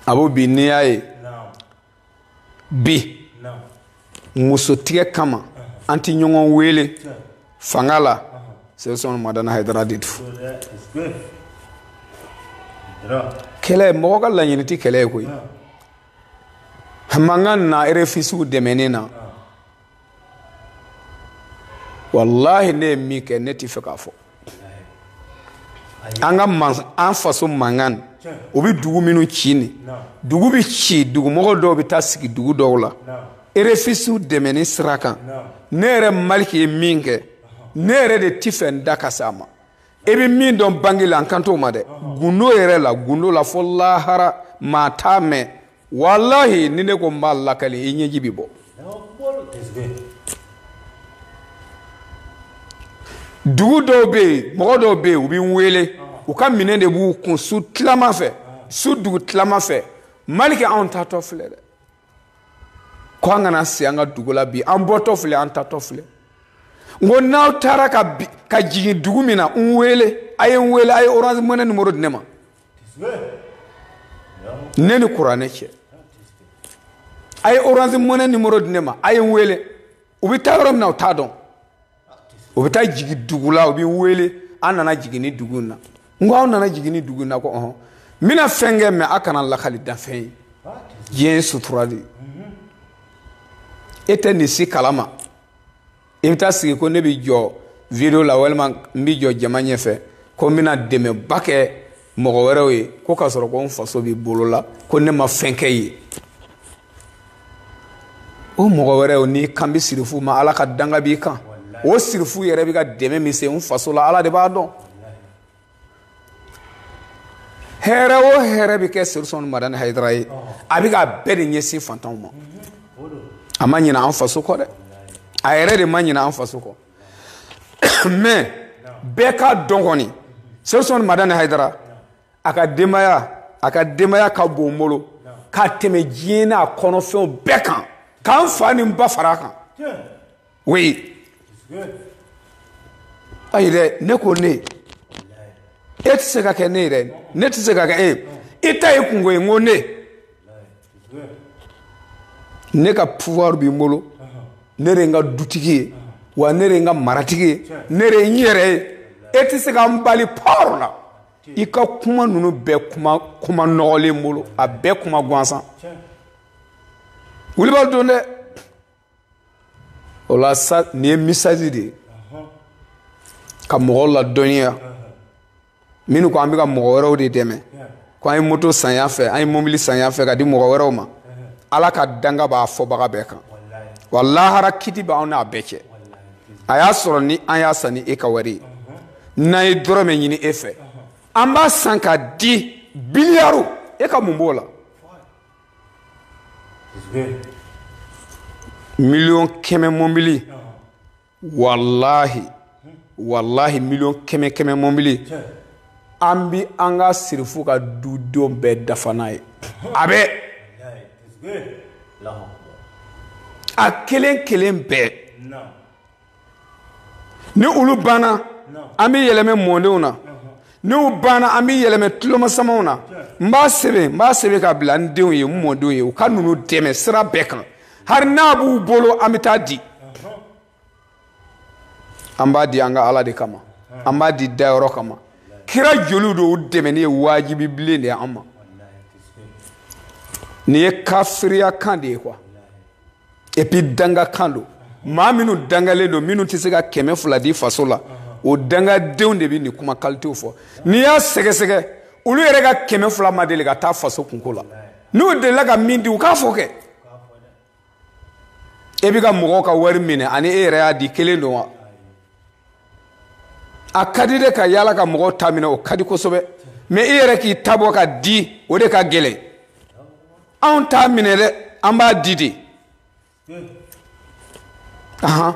a b'o bi n'i y'a ye bi muso tigɛ kama an tɛ ɲɔgɔn wele fanga la sɛsɔn madani hayidara de tun kɛlɛ mɔgɔ ka laɲini tɛ kɛlɛ ye koyi mankan na erefiziyew dɛmɛni na walahi ne ye min kɛ ne tɛ fɛ k'a fɔ an ka an faso mankan u bɛ dugu minnu ci ni dugu bɛ ci dugumɔgɔ dɔw bɛ taa sigi dugu dɔw la erefiziyew dɛmɛni sira kan ne yɛrɛ maliki ye min kɛ ne yɛrɛ de tɛ fɛ n da ka se a ma e bɛ min dɔn bange la n kan t'o ma dɛ gundo yɛrɛ la gundo la fo lahara maa t'a mɛn walahi ni ne ko n b'a lakali i ɲɛji bɛ bɔ dugu dɔw bɛ yen mɔgɔ dɔw bɛ yen u bɛ n wele u ka minɛn de b'u kun su tilama fɛ su dugu tilama fɛ maliki anw taatɔ filɛ dɛ ko an kana se an ka dugu la bi an bɔtɔ filɛ an taatɔ filɛ n ko n'aw taara ka jigin dugu min na n wele a ye n wele a ye orange money numéro di ne ma ne ni kuranɛ cɛ a ye orange money numéro di ne ma a ye n wele u bɛ taa yɔrɔ min na u t'a dɔn u bɛ taa jigin dugu la u bɛ n wele an nana jigin ni dugu in na n ko aw nana jigin ni dugu in na ko ɔhɔn n bɛna fɛn kɛ mɛ a kana lakali danfɛn ye diɲɛ ye sutura de ye e tɛ nin si kalama i bɛ taa sigi ko ne bɛ jɔ video la walima n bɛ jɔ jama ɲɛfɛ ko n bɛna dɛmɛba kɛ mɔgɔ wɛrɛw ye ko k'a sɔrɔ ko n faso b'i bolo la ko ne ma fɛn kɛ ye o mɔgɔ wɛrɛw n'i kan bɛ sirifu ma ala ka danga b'i kan o sirifu yɛrɛ bɛ ka dɛmɛ min se n faso la ala de b'a dɔn hɛrɛ o hɛrɛ bɛ kɛ sirifu usumani madani hayidara ye a bɛ k'a bɛɛ de ɲɛsin fantanw ma a ma ɲinɛ an faso kɔ dɛ a yɛrɛ de ma ɲinɛ an faso kɔ mais bɛɛ k'a dɔn kɔni sirifu usumani madani hayidara a ka denbaya ka bon n bolo ka tɛmɛ diɲɛ n'a kɔnɔfɛnw bɛɛ kan ka n fa ni n ba fara a kan oui ayi dɛ ne ko ne e tɛ se ka kɛ ne ye dɛ ne tɛ se ka kɛ e ye i ta y'i kunko ye n ko ne ne ka pouvoir bɛ n bolo ne de ye n ka dutigi ye wa ne de ye n ka maratigi ye ne de ye n yɛrɛ ye e tɛ se ka n bali pɔɔrɔ la i ka kuma ninnu bɛɛ kuma nɔgɔlen n bolo a bɛɛ kuma gansan wulibali don dɛ o la sa nin ye message de ye ka mɔgɔw ladɔnniya minnu ko an bɛ ka mɔgɔ wɛrɛw de dɛmɛ ko an ye moto san yan fɛ an ye mobili san yan fɛ k'a di mɔgɔ wɛrɛw ma ala ka danga b'a fɔbaga bɛɛ kan wa lahara kiti b'anw n'a bɛɛ cɛ a y'a sɔrɔ ni an y'a san ni e ka wari ye n'an ye dɔrɔmɛ ɲini e fɛ an b'a san k'a di biliyaru e ka mun b'o la miliyɔn kɛmɛ mɔbili walahi walahi miliyɔn kɛmɛ kɛmɛ mɔbili an bɛ an ka sirifu ka dudenw bɛɛ dafa n'a ye a bɛ a kelen kelen bɛɛ ni olu banna an bɛ yɛlɛmɛ mɔdenw na n'u banna an bɛ yɛlɛmɛ tulomasamaw na n b'a sɛbɛn n b'a sɛbɛn ka bila n denw ye n mɔdenw ye u ka ninnu dɛmɛ sira bɛɛ kan hari n'a b'u bolo an bɛ taa di an b'a di an ka ala de kama an b'a di dayɔrɔ kama kira joliw don u dɛmɛni ye wajibi bilen de ye an ma nin ye kafiriya kan de ye quoi epi danga kan don maa minnu dangalen don minnu tɛ se ka kɛmɛ fila di faso la o dangadenw de bɛ nin kuma kalitew fɔ n'i y'a sɛgɛsɛgɛ olu yɛrɛ ka kɛmɛ fila ma deli ka taa faso kunko la n'u delila ka min di u k'a fɔ kɛ e bɛ ka mɔgɔw ka wari minɛ ani e yɛrɛ y'a di kelen don wa a ka di de ka yaala ka mɔgɔw ta minɛ o ka di kosɛbɛ mɛ e yɛrɛ k'i ta bɔ k'a di o de ka gɛlɛn anw t'a minɛ dɛ an b'a di de ahan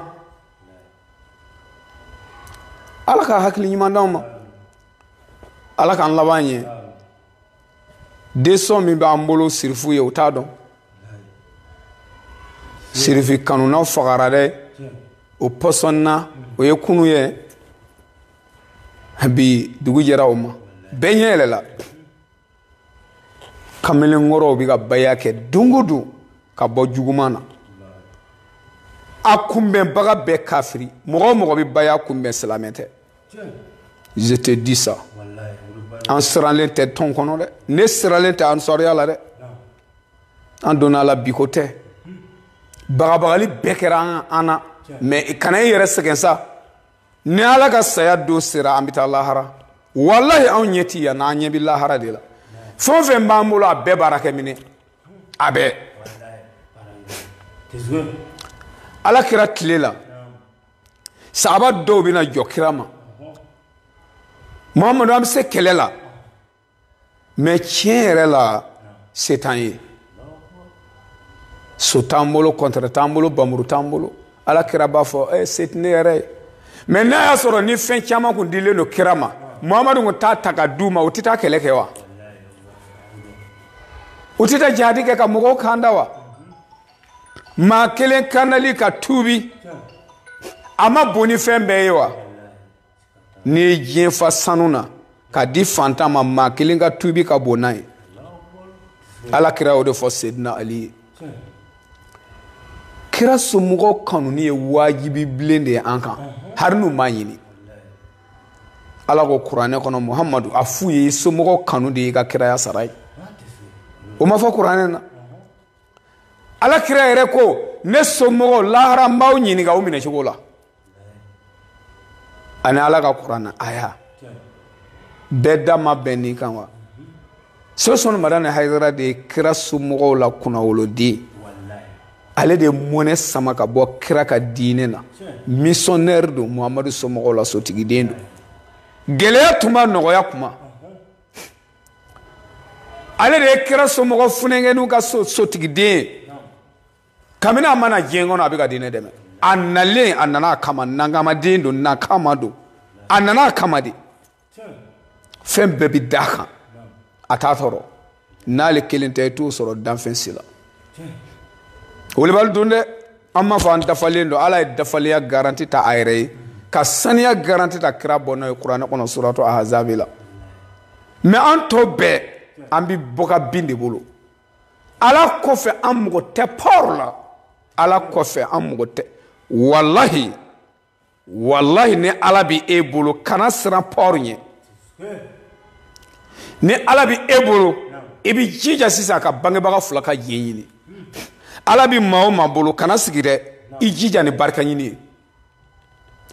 ala ka hakili ɲuman d'anw ma ala k'an laban ɲɛ desɔn min b'an bolo sirifu ye u t'a dɔn sirifi kanunaw fagara dɛ o pɔsɔnna o ye kunu ye bi dugu jɛra o ma bɛɛ ɲɛ yɛlɛla kamelenkɔrɔw bɛ ka baya kɛ don o don ka bɔ juguman na a kunbɛnbaga bɛɛ kafiri mɔgɔ o mɔgɔ bɛ baya kunbɛn silamɛ tɛ je te dis ça an siralen tɛ tɔn kɔnɔ dɛ ne siralen tɛ ansɔriya la dɛ an donna a la bi ko tɛ bagabagali bɛɛ kɛra an na mɛ kana i yɛrɛ sɛgɛn sa ni ala ka saya don sera an bɛ taa lahara walahi anw ɲɛ ti yan na an ɲɛ bɛ lahara de la fɛn o fɛn b'an bolo a bɛɛ baarakɛminɛn a bɛɛ ala kira tile la sahaba dɔw bɛna jɔ kira ma muhamadu an bɛ se kɛlɛ la mɛ tiɲɛ yɛrɛ la se t'an ye so t'an bolo kɔntɛrɛ t'an bolo bamuru t'an bolo ala kira b'a fɔ ɛ se tɛ ne yɛrɛ ye mɛ n'a y'a sɔrɔ ni fɛn caman kun dilen don kira ma muhamadu kun t'a ta ka d'u ma u tɛ taa kɛlɛ kɛ wa u tɛ taa jihadi kɛ ka mɔgɔw kanda wa maa kelen kandali ka tuubi a ma bon ni fɛn bɛɛ ye wa n'i ye diɲɛ fa sanu na k'a di fantan ma maa kelen ka tubi ka bon n'a ye ala kira y'o de fɔ sedina ali ye kira somɔgɔw kanuni ye wajibi bilen de ye an kan hari n'u m'a ɲini ala ko kuranɛ kɔnɔ muhamadu a f'u ye i somɔgɔw kanu de y'i ka kiraya sara ye o ma fɔ kuranɛ na ala kira yɛrɛ ko ne somɔgɔw lahara n b'aw ɲininka o minɛ cogo la ani ala ka kuranɛ aya bɛɛ da ma bɛn nin kan wa usumani madani hayidara de ye kira somɔgɔw la kunnawoloden ale de ye mɔnɛ sama ka bɔ kira ka diinɛ na misɔnnɛri don muhamadu somɔgɔw la sotigiden don gɛlɛya tuma nɔgɔya kuma ale de ye kira somɔgɔ funɛnkɛninw ka sotigiden ye kabini a ma na diɲɛ kɔnɔ a bɛ ka diinɛ dɛmɛ a nalen a nana a kama nakamaden don nakama don a nana a kama de fɛn bɛɛ bɛ d'a kan a t'a tɔɔrɔ n'ale kelen tɛ i t'o sɔrɔ danfɛn si la welebali don dɛ an m'a fɔ an dafalen don ala ye dafalenya garanti ta a yɛrɛ ye ka saniya garanti ta kira bɔnnaw ye kuranɛ kɔnɔ suratu ahazabi la mɛ an tɔ bɛɛ an bɛ bɔ ka bin de bolo ala kɔfɛ an mako tɛ pouvoir la ala kɔfɛ an mako tɛ walahi walahi ni ala bɛ e bolo kana siran pouvoir ɲɛ ni ala bɛ e bolo i bɛ jija sisan ka bangebaga fila ka jɛn ɲini ala bɛ maa o maa bolo kana sigi dɛ i jija ni barika ɲini ye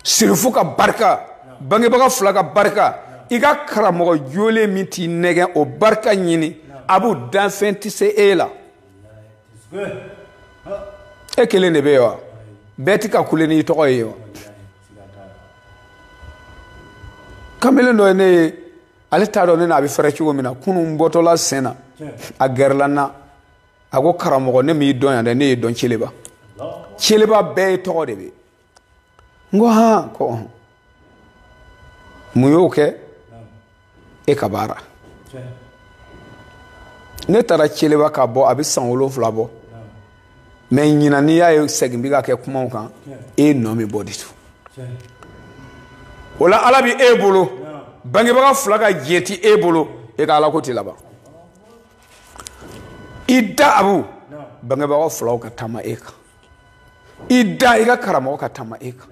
serifu ka barika bangebaga fila ka barika i ka karamɔgɔ jolen min t'i nɛgɛn o barika ɲini a b'u danfɛn tɛ se e la e kelen de bɛ yen wa bɛɛ tɛ ka kule n'i tɔgɔ ye wa kamalen dɔ ye ne ye ale t'a dɔn ne n'a bɛ fɛrɛ cogo min na kunun bɔtɔla sen na a gɛrɛla n na a ko karamɔgɔ ne m'i dɔn yan dɛ ne y'e dɔn celeba celeba bɛɛ ye tɔgɔ de bɛ n ko han ko ɔhɔn mun y'o kɛ e ka baara ne taara celeba ka bɔ a bɛ san wolonfila bɔ mɛ ɲinan n'i y'a ye segin bɛ ka kɛ kumaw kan e nɔ bɛ bɔ de to o la ala bɛ e bolo bangebaga fila ka jɛn ti e bolo e ka alako tɛ laban i da abu bangebaga filaw ka taama e kan i da i ka karamɔgɔ ka taama e kan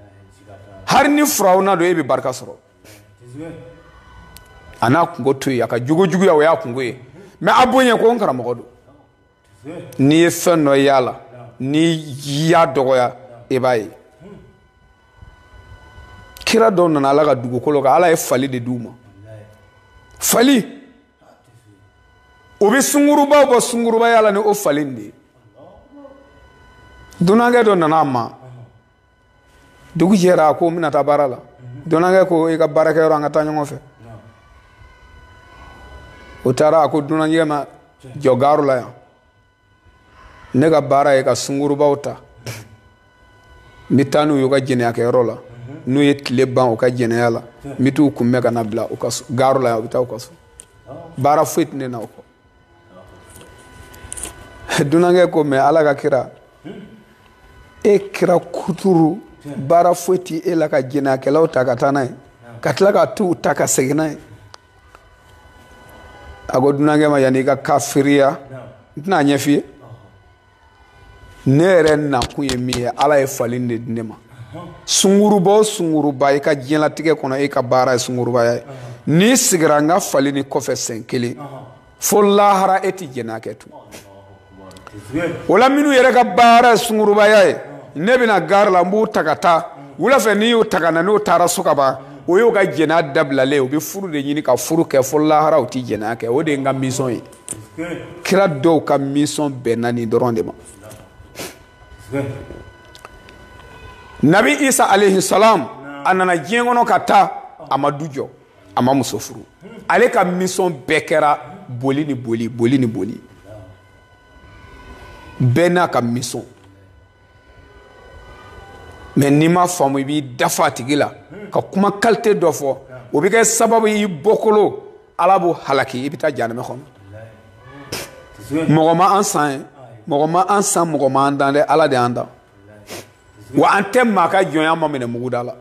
hali ni firawuna don e bɛ barika sɔrɔ a n'a kunko to yen a ka jogo juguya o y'a kunko ye mɛ a bonya ko n karamɔgɔ don n'i ye fɛn dɔ y'a la n'i y'a dɔgɔya i b'a ye kira dɔw nana ala ka dugukolo kan ala ye fali de d'u ma fali o bɛ sungurubaw bɔ sungurubaya la ni o fali de ye dunankɛ dɔ nana a ma dugu jɛra a ko n bɛna taa baara la dunankɛ ko i ka baarakɛyɔrɔ an ka taa ɲɔgɔn fɛ o taara a ko dunankɛ ma jɔ gaaro la yan ne ka baara ye ka sungurubaw ta n bɛ taa n'u y'u ka jɛnɛyakɛyɔrɔ la n'u ye tile ban u ka jɛnɛya la n bɛ t'u kunbɛn ka na bila u ka so gaaro la yan u bɛ taa u ka so baara foyi tɛ ne na o kɔ dunankɛ ko mɛ ala ka kira e kira kuturu baara foyi tɛ e la ka jɛnɛyakɛlaw ta ka taa n'a ye ka tila ka t'u ta ka segin n'a ye a ko dunankɛ ma yanni i ka kafiriya n tɛna a ɲɛf'i ye ne yɛrɛ nakun ye min ye ala ye fali de di ne ma sunguruba o sunguruba i ka diɲɛlatigɛ kɔnɔ e ka baara ye sungurubaya ye n'i sigira n ka fali nin kɔfɛ sɛn kelen fo lahara e tɛ jɛnɛya kɛ tun o la minnu yɛrɛ ka baara ye sungurubaya ye ne bɛ na gari la n b'u ta ka taa wula fɛ n'i y'u ta ka na n'u taara so ka ban o y'u ka jɛnɛya dabilalen ye u bɛ furu de ɲini ka furu kɛ fo lahara u tɛ jɛnɛya kɛ o de ye n ka misɔn ye kira dɔw ka misɔn bɛnna nin dɔrɔn de ma nabi isa alayhi salam a nana diɲɛ kɔnɔ ka taa a ma du jɔ a ma muso furu ale ka misɔn bɛɛ kɛra boli ni boli boli ni boli bɛɛ n'a ka misɔn mɛ n'i ma faamu i b'i dafa a tigi la ka kuma kalite dɔ fɔ o bɛ kɛ sababu y'i bɔkolo ala b'o halaki i bɛ taa janɛmɛ kɔnɔ mɔgɔ ma an san ye mɔgɔ ma an san mɔgɔ ma an dan dɛ ala de y'an dan wa an tɛ maa ka jɔn y'an ma minɛ muguda la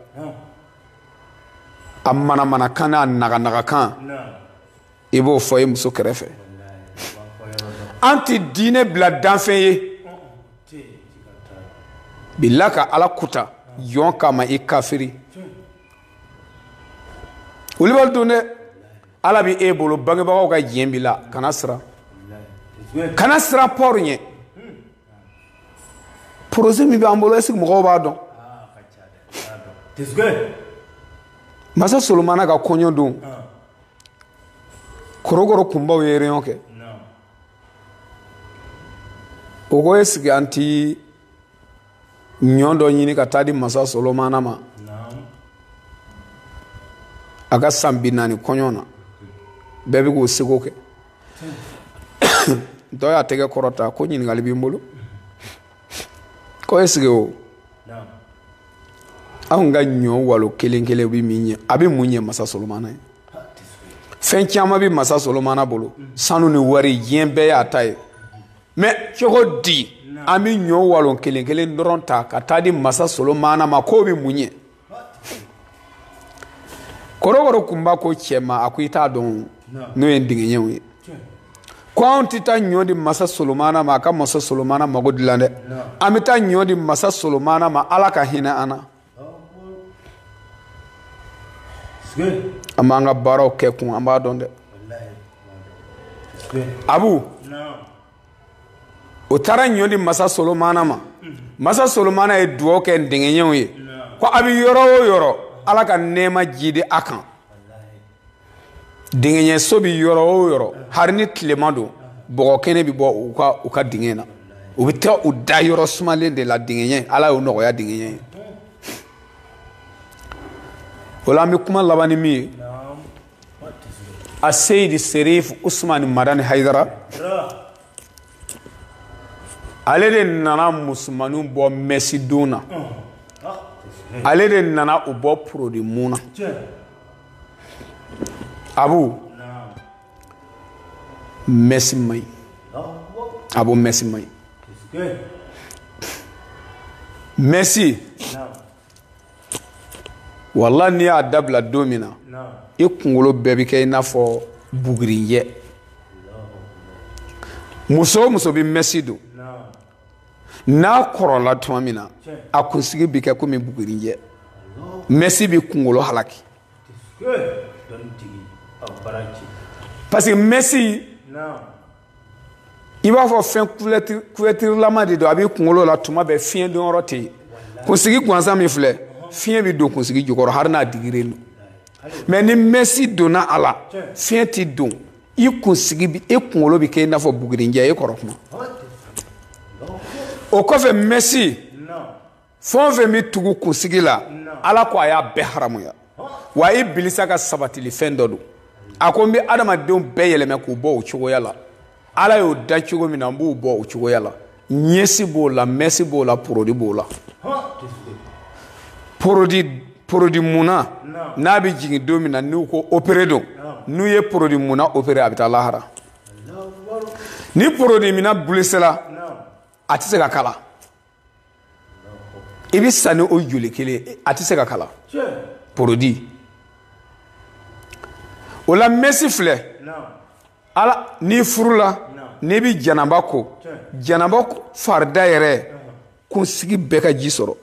a manamanakan n'a naganagakan i b'o fɔ i muso kɛrɛfɛ an tɛ diinɛ bila danfɛn ye bila ka ala kuta jɔn kama i kafiri olu b'a dɔn dɛ ala bɛ e bolo bangebagaw ka diɲɛ b'i la kana siran kana siran foyi ɲɛ porozɛ min b'an bolo ɛseke mɔgɔw b'a dɔn masa solomana ka kɔɲɔ don kɔrɔkɔrɔ kunbaw ye reyɔn kɛ o ko ɛseke an ti ɲɔ dɔ ɲini ka taa di masa solomana ma a ka san bi naani kɔɲɔ na bɛɛ bɛ k'o seko kɛ dɔ y'a tɛgɛ kɔrɔta ko ɲininkali bi n bolo ko est ce que o anw ka ɲɔ walo kelen kelen bɛ min ɲɛ a bɛ mun ɲɛ masa solomana ye fɛn caman bɛ masa solomana bolo sanu ni wari diɲɛ bɛɛ y'a ta ye mɛ cogo di an bɛ ɲɔ walo kelen kelen dɔrɔn ta ka taa di masa solomana ma k'o bɛ mun ɲɛ kɔrɔkɔrɔ kunba ko cɛ ma a ko i t'a dɔn n'o ye ndigiɲɛw ye ko anw tɛ taa ɲɔ di masa solomana ma a ka masa solomana mago dilan dɛ an bɛ taa ɲɔ di masa solomana ma ala ka hinɛ an na an b'an ka baaraw kɛ kun an b'a dɔn dɛ abu o taara ɲɔ di masa solomana ma masa solomana ye dugaw kɛ ndigiɲɛw ye ko a bɛ yɔrɔ o yɔrɔ ala ka nɛɛma jidi a kan digiɲɛso bɛ yɔrɔ o yɔrɔ hari ni tilema don bɔgɔ kɛnɛ bɛ bɔ u ka dingɛ na u bɛ taa u da yɔrɔ sumalen de la digiɲɛ ala y'o nɔgɔya digiɲɛ ye o la an bɛ kuma laban ni min ye a seyidi serif usmani madani haidara ale de nana musomanninw bɔ mɛsidon na ale de nana u bɔ porodi mun na abu mɛsi man ɲi abu mɛsi man ɲi mɛsi walayi n'i y'a dabila don min na i kunkolo bɛɛ bɛ kɛ i n'a fɔ bugurinjɛ muso o muso bɛ mɛsi don n'a kɔrɔla tuma min na a kunsigi bɛ kɛ komi bugurinjɛ mɛsi bɛ kunkolo halaki parce que mɛsi i b'a fɔ fɛn kuwɛtirilama de don a b'i kunkolo la tuma bɛɛ fiɲɛ donyɔrɔ tɛ yen kunsigi gansan min filɛ fiɲɛ bɛ don kunsigi jukɔrɔ hali n'a digilen don mɛ ni mɛsi donna a la fiɲɛ tɛ don i kunsigi bi e kunkolo bɛ kɛ i n'a fɔ bugurinjɛ e kɔrɔ kuma o kɔfɛ mɛsi fɛn o fɛn bɛ tugu kunsigi la ala ko a y'a bɛɛ haramuya wa ibilisa ka sabatili fɛn dɔ don a ko n bɛ adamadenw bɛɛ yɛlɛmɛ k'u bɔ o cogoya la ala y'o da cogo min na n b'u bɔ o cogoya la ɲɛsi b'o la mɛsi b'o la porodi b'o la porodi porodi munna n'a bɛ jigin don min na n'u ko opere don n'u ye porodi munna opere a bɛ taa lahara ni porodi munna bulesela a tɛ se ka kala i bɛ sa ni o joli kelen a tɛ se ka kala porodi o la mɛsi filɛ ala n'i furula n'i bɛ janaba ko janaba farida yɛrɛ kunsigi bɛɛ ka ji sɔrɔ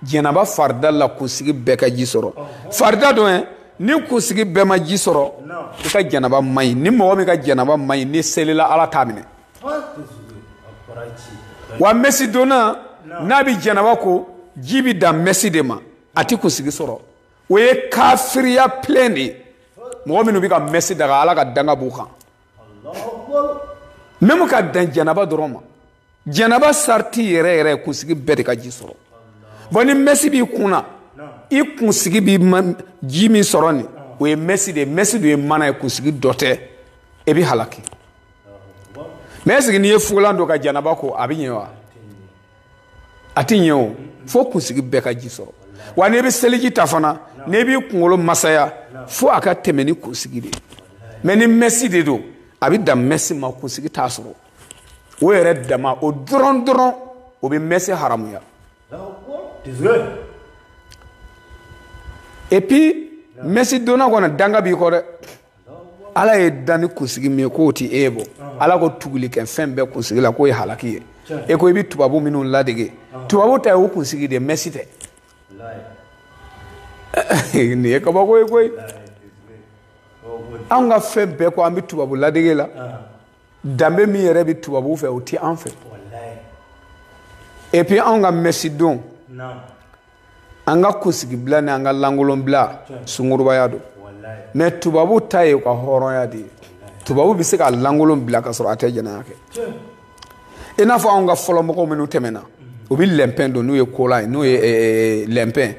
janaba farida la kunsigi bɛɛ ka ji sɔrɔ farida dɔ ye ni kunsigi bɛɛ ma ji sɔrɔ i ka janaba man ɲi ni mɔgɔ min ka janaba man ɲi n'i selila ala t'a minɛ wa mɛsi donna n'a bɛ janaba ko ji bɛ dan mɛsi de ma a tɛ kunsigi sɔrɔ o ye kafiriya pilɛn de ye mɔgɔ minnu bɛ ka mɛsi daga ala ka danga b'u kan mɛmu k'a dan janaba dɔrɔn ma janaba sariti yɛrɛ yɛrɛ kunsigi bɛɛ de ka ji sɔrɔ bɔn ni mɛsi b'i kun na i kunsigi bɛ ji min sɔrɔ nin o ye mɛsi de ye mɛsi de ye mana ye kunsigi dɔ tɛ e bɛ halaki mɛ ɛseke n'i ye fugulan don ka janaba ko a bɛ ɲɛ wa a tɛ ɲɛ o fo kunsigi bɛɛ ka ji sɔrɔ wa n'i bɛ seliji ta fana n'i b'i kunkolo masaya fo a ka tɛmɛ ni kunsigi de ye mɛ ni mɛsi de don a bɛ dan mɛsi ma kunsigi t'a sɔrɔ o yɛrɛ dama o dɔrɔn dɔrɔn o bɛ mɛsi haramuya et puis mɛsi donna kɔni danga b'i kɔ dɛ ala y'i dan ni kunsigi min ye k'o ti e bɔ ala ko tuguli kɛ fɛn bɛɛ kunsigi la k'o ye halaki ye e ko i bɛ tubabu minnu ladege tubabu ta ye o kunsigi de mɛsi tɛ nin ye kabako ye koyi anw ka fɛn bɛɛ ko an bɛ tubabu ladege la danbe min yɛrɛ bɛ tubabu fɛ o ti an fɛ epi anw ka mɛsi don an ka kunsigibila ni an ka lankolonbila sungurubaya don mɛ tubabu ta ye u ka hɔrɔnya de ye tubabu bɛ se k'a lankolon bila ka sɔrɔ a tɛ jɛnɛya kɛ i n'a fɔ anw ka fɔlɔ mɔgɔw minnu tɛmɛna u bɛ lɛnpɛn don n'u ye kola ye n'u ye lɛnpɛn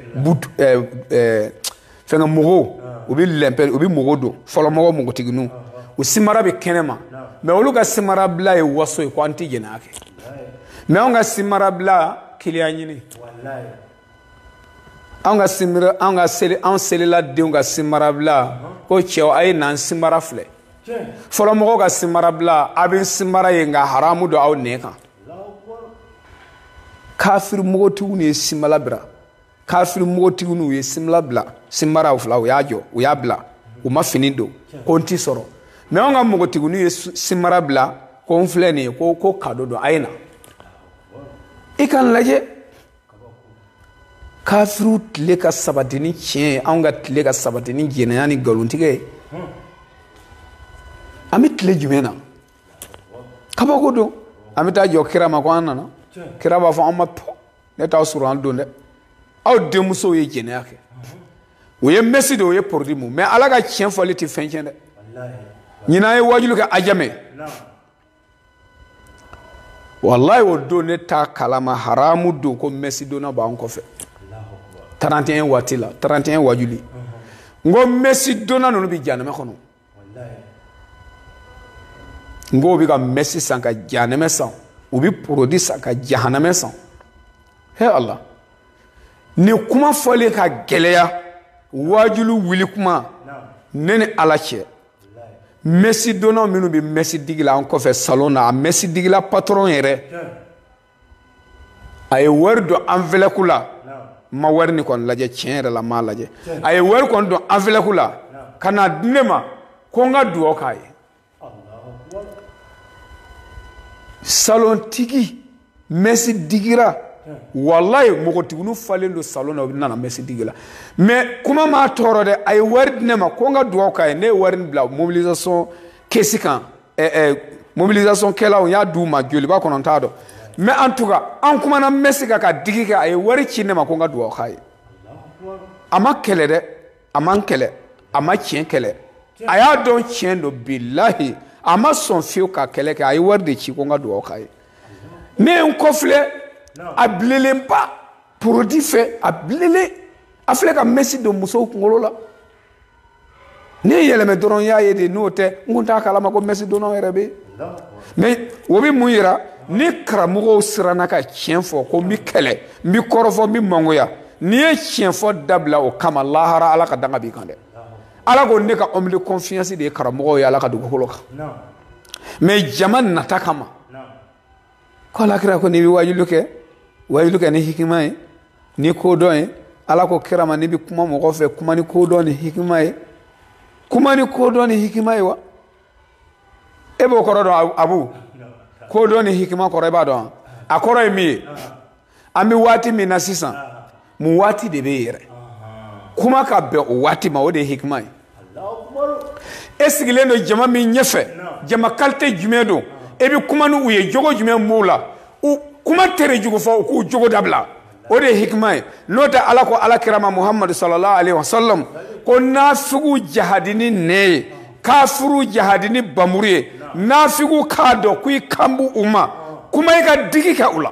fɛnkɛ mogo u bɛ lɛnpɛ u bɛ mogo don fɔlɔ mɔgɔ mogotigininw u simara bɛ kɛnɛ ma mɛ olu ka simarabila ye waso ye ko an tɛ jɛnɛya kɛ mɛ anw ka simarabila kiliyan ɲini anw ka simara anw ka seli anw selila denw ka simarabila ko cɛw a ye n'an simara filɛ fɔlɔ mɔgɔw ka simarabila a bɛ simara ye nka haramu don aw nɛ kan kafiri mogotigiw de ye simala bira kafiri mogotigininw ye simara bila simara fila u y'a jɔ u y'a bila u ma fini don ko n t'i sɔrɔ mɛ anw ka mogotigininw ye simara bila ko n filɛ nin ye ko ko kado don a ye na i ka n lajɛ kafiriw tile ka sabati ni tiɲɛ ye anw ka tile ka sabati ni jɛnɛya ni nkalontigɛ ye an bɛ tile jumɛn na kabako don an bɛ taa jɔ kira ma ko an nana kira b'a fɔ an ma tɔ ne t'aw sura dɔn dɛ aw denmusow ye jɛnɛya kɛ u ye mɛsi don u ye porodi mu mɛ ala ka tiɲɛ fɔli tɛ fɛn tiɲɛ dɛ ɲinan n ye wajulu kɛ ajamɛ walayi o don ne t'a kalama haramu don ko mɛsi donna b'an kɔfɛ 31 waati la 31 wajuli n ko mɛsi donna ninnu bɛ janɛmɛ kɔnɔ n ko u bɛ ka mɛsi san ka jahanamɛ san u bɛ porodi san ka jahanamɛ san he ala nin kuma fɔli ka gɛlɛya waajulu wuli kuma ne ni ala cɛ mɛsi donnaw minnu bɛ mɛsi digi la an kɔfɛ salon na a mɛsi digila patɔrɔn yɛrɛ a ye wari don anvɛlɔpu la n ma wari nin kɔni lajɛ tiɲɛ yɛrɛ la n m'a lajɛ a ye wari kɔni don anvɛlɔpu la ka na di ne ma ko n ka dugawu k'a ye salontigi mɛsi digila walayi mogotigininw falen don salon na u nana mɛsi digi la mɛ kuma m'a tɔɔrɔ dɛ a ye wari di ne ma ko n ka dugawu k'a ye ne ye wari bila mobilisation kɛsi kan eh, eh, mobilisation kɛlaw n y'a d'u ma joli b'a kɔnɔ n t'a dɔn mais en tout cas an kumana mɛsi kan ka digi kɛ a ye wari ci ne ma ko n ka dugawu k'a ye a ma kɛlɛ dɛ a ma kɛlɛ a ma tiɲɛ kɛlɛ a y'a dɔn tiɲɛ don bilahi a ma sɔn fiyewu ka kɛlɛ kɛ a ye wari de ci ko n ka dugawu k'a ye ne ye n kɔfilɛ a bilelenba porodi fɛ a bilelen a filɛ ka mɛsi don musow kunkolo la ne yɛlɛma dɔrɔn n y'a ye de n'o tɛ n kun t'a kalama ko mɛsi donna yɛrɛ bɛ mɛ o bɛ mun yira ni karamɔgɔw siranna ka tiɲɛ fɔ ko n bɛ kɛlɛ n bɛ kɔrɔfɔ n bɛ mangoya n'i ye tiɲɛ fɔ dabila o kama lahara ala ka danga b'i kan dɛ ala ko ne ka homme de confiance de ye karamɔgɔw ye ala ka dugukolo kan mɛ jama nata kama ko ala kira ko n'i bɛ wajuli kɛ wajuli kɛ ni hikima ye ni kodɔn ye ala ko kira ma n'i bɛ kuma mɔgɔ fɛ kuma ni kodɔn ni hikima ye kuma ni kodɔn ni hikima ye wa e b'o kɔrɔ dɔn abu kodɔn ni hikima kɔrɔ i b'a dɔn a kɔrɔ ye min ye an bɛ waati min na sisan mun waati de bɛ yen yɛrɛ kuma ka bɛn o waati ma o de ye hikima ye e sigilen don jama min ɲɛfɛ jama kalite jumɛn don e bɛ kuma ni u ye jogo jumɛn b'u la u kuma tere jugu fɔ u k'u jogo dabila o de ye hikima ye n'o tɛ ala ko ala kira ma muhamadu sallallahu alaihi wa sallam ko nafigiw jahadi ni nɛn ye kafuru jahadi ni bamuru ye nafigiw k'a dɔn ko i kan b'u ma kuma i ka digi kɛ u la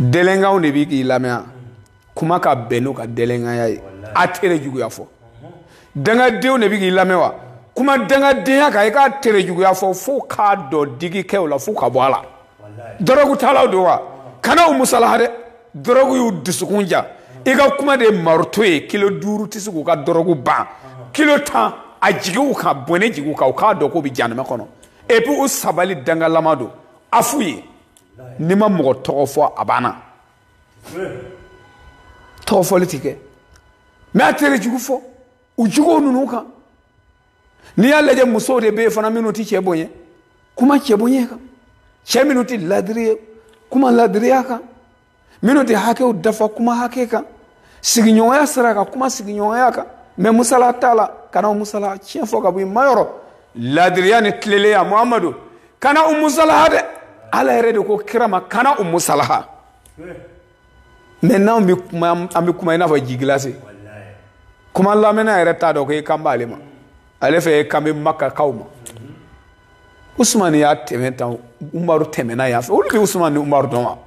dɛlɛnkanw de bi k'i lamɛn kuma ka bɛn n'u ka dɛlɛnkanya ye a tere juguya fɔ dangadenw de bi k'i lamɛn wa kuma dangadenya kan i k'a tere juguya fɔ fo u k'a dɔn digi kɛ u la fo u ka bɔ a la dɔrɔgu talaw don wa kana u musalaha dɛ dɔrɔgu y'u dusukun ja i ka kuma de ye maroto ye kilo duuru tɛ se k'u ka dɔrɔgu ban kilo tan a jigi u kan bɔnɛ jigi u kan u k'a dɔn k'u bɛ janama kɔnɔ epi u sabali dangalama don a f'u ye n'i ma mɔgɔ tɔgɔ fɔ a banna tɔgɔ fɔli ti kɛ mɛ a tere jugu fɔ u juguw ninnu kan n'i y'a lajɛ musow de bɛ yen fana minnu ti cɛ bonya kuma cɛ bonya kan cɛ minnu ti ladiri ye kuma ladiriya kan minnu tɛ hakɛw dafa kuma hakɛ kan sigiɲɔgɔnya sira kan kuma sigiɲɔgɔnya kan mɛ musala t'a la kana u musalaha tiɲɛ fɔ ka bɔ u ma yɔrɔ ladiriya ni tileleya muhamadu kana u musalaha dɛ ala yɛrɛ de ko kira ma kana u musalaha mɛ n'anw bɛ kuma i n'a fɔ ji gilase kuma lamɛnna yɛrɛ t'a dɔn ko i kan b'ale ma ale fɛ i kan bɛ makakaw ma usumani y'a tɛmɛ tan umaru tɛmɛna yan fɛ olu bɛ usumani ni umaru dɔn wa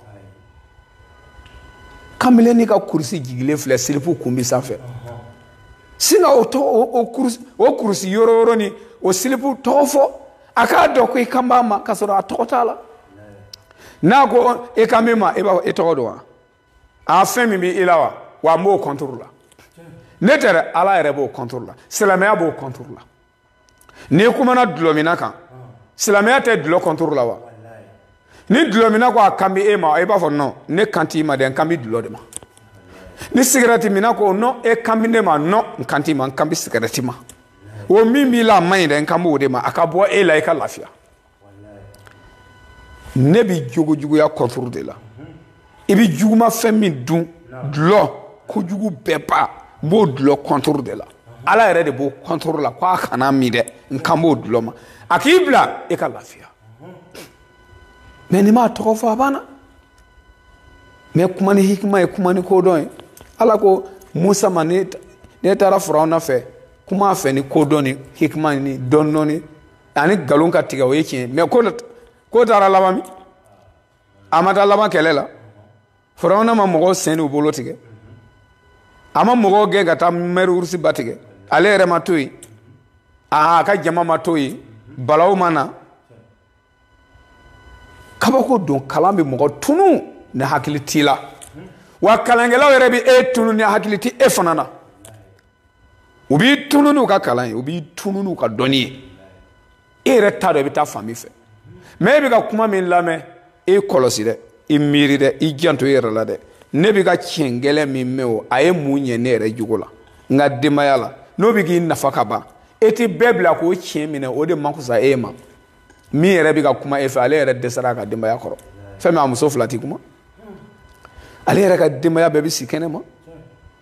kamalen ni ka kurusi jigilen filɛ silipu kun bi sanfɛ singa o tɔ o kurusi o kurusi yɔrɔ yɔrɔ ni o silipu tɔgɔ fɔ a k'a dɔn ko i kan b'a ma k'a sɔrɔ a tɔgɔ t'a la n'a ko e kan bɛ n ma e b'a fɔ e tɔgɔ don wa a fɛn min bɛ i la wa wa n b'o kɔntoro la ne tɛ dɛ ala yɛrɛ b'o kɔntoro la silamɛya b'o kɔntoro la n'i kumana dulɔminna kan silamɛya tɛ dulɔ kɔntoro la wa ni dulɔminna ko a kan bɛ e ma i b'a fɔ nɔn ne kan t'i ma dɛ n kan bɛ dulɔ de ma ni sigɛrɛti minna ko nɔn e kan bɛ ne ma nɔn n kan t'i ma n kan bɛ sigɛrɛti ma o min b'i la a man ɲi dɛ n kan b'o de ma a ka bɔ e la i ka lafiya ne bɛ jogo juguya contre de la i bɛ juguma fɛn min dun dulɔ kojugu bɛɛ ba n b'o dulɔ contre de la ala yɛrɛ de b'o contre la ko a kana min dɛ n kan b'o dulɔ ma a k'i bila e ka lafiya mais n'i m'a tɔgɔ fɔ a banna mais kuma ni hikima ye kuma ni kodɔn ye ala ko musa ma n'e taara farawuna fɛ kuma a fɛ ni kodɔn ni hikima ni dɔndɔnin ani nkalon ka tigɛ o ye tiɲɛ mais ko taara laban min a ma taa laban kɛlɛ la farawuna ma mɔgɔw sen n'u bolo tigɛ a ma mɔgɔw gɛn ka taa mer rouge ba tigɛ ale yɛrɛ ma to yen a ka jama ma to yen balaw ma na kabako don kalan bɛ mɔgɔ tunu ni hakili t'i la wa kalankɛlaw yɛrɛ bɛ e tunu ni hakili tɛ e fana na u b'i tunu n'u ka kalan ye u b'i tunu n'u ka dɔnni ye e yɛrɛ t'a dɔn i bɛ taa fan min fɛ mais e bɛ ka kuma min lamɛn e kɔlɔsi dɛ i miiri dɛ i janto i yɛrɛ la dɛ ne bɛ ka tiɲɛ gɛlɛn min mɛn o a ye mun ɲɛ ne yɛrɛ jogo la n ka denbaya la n'o bɛ k'i nafa ka ban e tɛ bɛɛ bila k'o tiɲɛ minɛ o de man fisa e ma min yɛrɛ bɛ ka kuma e fɛ ale yɛrɛ dɛsɛra a ka denbaya kɔrɔ fɛn min a muso fila tɛ kuma ale yɛrɛ ka denbaya bɛɛ bɛ si kɛnɛ ma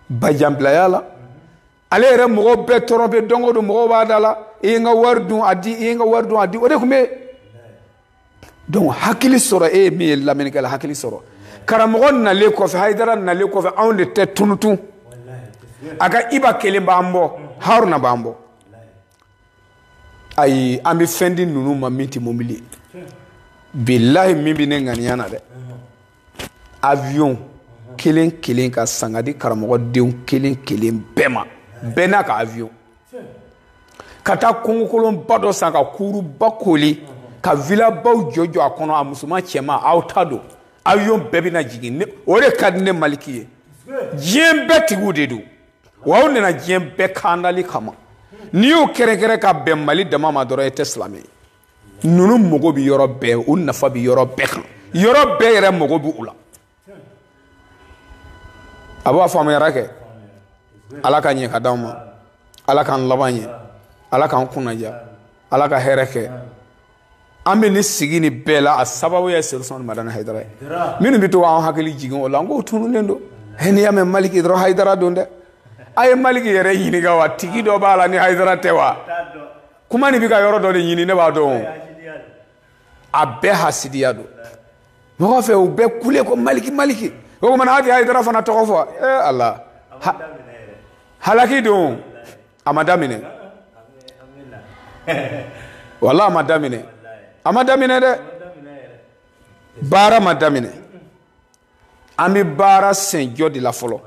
bajanbilaya la ale yɛrɛ mɔgɔw bɛɛ tɔɔrɔ bɛ don o don mɔgɔw b'a da la i ye n ka wari dun a di i ye n ka wari dun a di o de tun bɛ donc hakili sɔrɔ e ye min ye lamɛnnikɛla hakili sɔrɔ karamɔgɔ nalen kɔfɛ hayidara nalen kɔfɛ anw de tɛ tunun tun a ka iba kelen b'an bɔ haruna b'an bɔ ayi an bɛ fɛn di ninnu ma min tɛ mobili ye bilahi min bɛ ne ŋaniya na dɛ avion kelen kelen ka san ka di karamɔgɔdenw kelen kelen bɛɛ ma bɛɛ n'a ka avion ka taa kungokolonba dɔ san ka kuruba kooli ka vilabaw jɔjɔ a kɔnɔ a musoman cɛman aw ta don avion bɛɛ bɛna jigin o de ka di ne maliki ye diɲɛ bɛɛ tigiw de don wa aw nana diɲɛ bɛɛ kandali kama n'i y'o kɛrɛnkɛrɛn ka bɛn mali dama ma dɔrɔn e tɛ silamɛ ye ninnu mago bɛ yɔrɔ bɛɛ u nafa bɛ yɔrɔ bɛɛ kan yɔrɔ bɛɛ yɛrɛ mago bɛ u la a b'a faamuyara kɛ ala ka ɲɛ ka d'anw ma ala k'an laban ɲɛ ala k'an kunnadiya ala ka hɛrɛ kɛ an bɛ nin sigi nin bɛɛ la a sababu ye serifu usumani madani hayidara ye minnu bɛ to k'an hakili jigin o la n k'o tununnen don n'i y'a mɛn maliki dɔrɔn hayidara don dɛ a ye maliki yɛrɛ ɲininka wa tigi dɔ b'a la ni hayidara tɛ wa kuma nin bɛ ka yɔrɔ dɔ de ɲini ne b'a dɔn a bɛɛ hasidiya don mɔgɔ fɛ u bɛɛ kule ko maliki maliki o tuma na a tɛ hayidara fana tɔgɔ fɔ ee ala halaki don a ma daminɛ walahi a ma daminɛ a ma daminɛ dɛ baara ma daminɛ an bɛ baara senjɔ de la fɔlɔ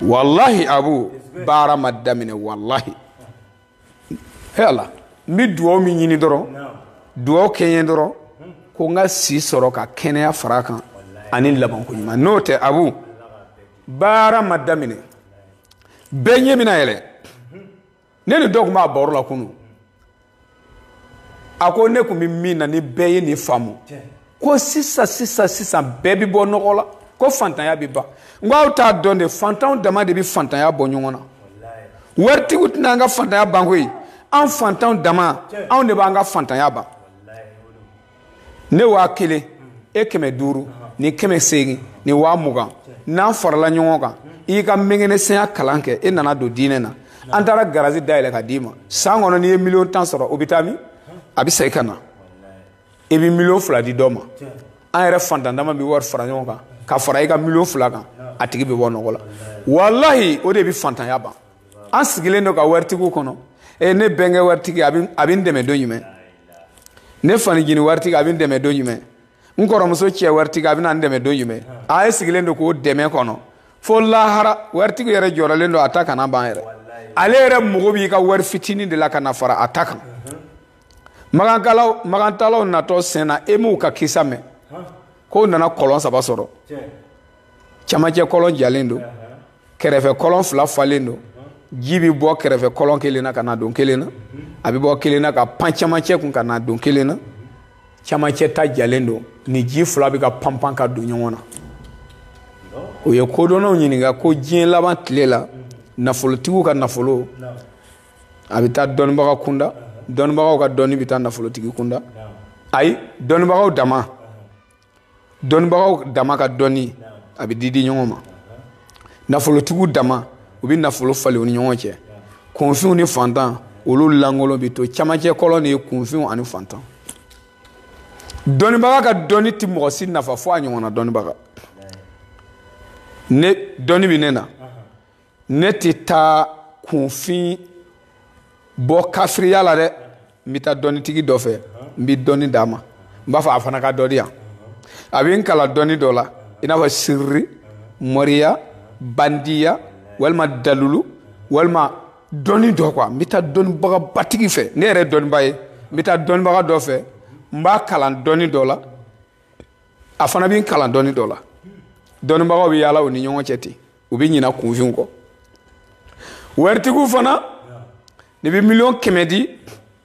walahi abu baara ma daminɛ walahi ala n bɛ dugawu min ɲini dɔrɔn dugawu kɛ n ye dɔrɔn ko n ka si sɔrɔ ka kɛnɛya fara a kan ani labanko ɲuman n'o tɛ abu baara ma daminɛ bɛɛ ɲɛ bɛna yɛlɛ ne ni dɔ tun b'a baro la kunun a ko ne tun bɛ min na ni bɛɛ ye nin faamu ko sisan sisan sisan bɛɛ bɛ bɔ nɔgɔ la ko fantanya bɛ ban n ko aw t'a dɔn de fantanw dama de bɛ fantanya bɔ ɲɔgɔn na waritigiw tɛna an ka fantanya ban koyi an fantanw dama anw de b'an ka fantanya ban ne waa kelen e kɛmɛ duuru ni kɛmɛ seegin ni waa mugan n'an farala ɲɔgɔn kan i y'i ka mɛngɛnɛsɛnya kalan kɛ e nana don diinɛ na an taara garazi dayɛlɛ ka d'i ma san kɔnɔ n'i ye miliyɔn tan sɔrɔ o bɛ taa min a bɛ segin ka na i bɛ miliyɔn fila di dɔ ma an yɛrɛ fantan dama bɛ wari fara ɲɔgɔn kan ka fara i ka miliyɔn fila kan a tigi bɛ bɔ nɔgɔ la walahi o de bɛ fantanya ban an sigilen don ka waritigiw kɔnɔ e ne bɛnkɛ waritigi a bɛ n dɛmɛ don jumɛn ne fa ncinin waritigi a bɛ n dɛmɛ don jumɛn n kɔrɔmuso cɛ waritigi a bɛna n dɛmɛ don jumɛn a ye sigilen don k'o dɛmɛ kɔnɔ fo lahara waritigi yɛrɛ jɔrɔlen don a ta kana ban yɛrɛ ale yɛrɛ mago b'i ka wari fitinin de la ka na fara a ta kan makantaalaw natɔ senna e m'u ka kisa mɛn k'u nana kɔlɔn saba sɔrɔ camancɛ kɔlɔn jalen don kɛrɛfɛ kɔlɔn fila falen don ji bɛ bɔ kɛrɛfɛ kɔlɔn kelen na ka na don kelen na a bɛ bɔ kelen na ka pan camancɛ kun ka na don kelen na camancɛ ta jalen don nin ji fila bɛ ka panpan ka don ɲɔgɔn na u ye kodɔnnaw ɲininka ko diɲɛ laban tile la nafolotigiw ka nafolo a bɛ taa dɔnnibaga kunda dɔnnibagaw ka dɔnni bɛ taa nafolotigi kunda ayi dɔnnibagaw dama dɔnnibagaw dama ka dɔnni a bɛ di di ɲɔgɔn ma nafolotigiw dama u bɛ nafolo falen u ni ɲɔgɔn cɛ kunfinw ni fantan olu lankolon bɛ to camancɛ kɔlɔn de ye kunfinw ani fantan dɔnnibaga ka dɔnni tɛ mɔgɔ si nafa fo a ɲɔgɔnna dɔnnibaga ne dɔnni bɛ ne na ne tɛ taa kunfin bɔ kafiriya la dɛ n bɛ taa dɔnnitigi dɔ fɛ n bɛ dɔnni d'a ma n b'a fɔ a fana ka dɔ di yan a bɛ n kalan dɔnni dɔ la i n'a fɔ siriri mɔriya bandiya walima dalulu walima dɔnni dɔ kuwa n bɛ taa dɔnnibagabatigi fɛ ne yɛrɛ dɔnniba ye n bɛ taa dɔnnibaga dɔ fɛ n b'a kalan dɔnni dɔ la a fana bɛ n kalan dɔnni dɔ la dɔnnibagaw bɛ yaala u ni ɲɔgɔn cɛ ten u bɛ ɲina kunfinw kɔ waritigiw fana ne bɛ miliyɔn kɛmɛ di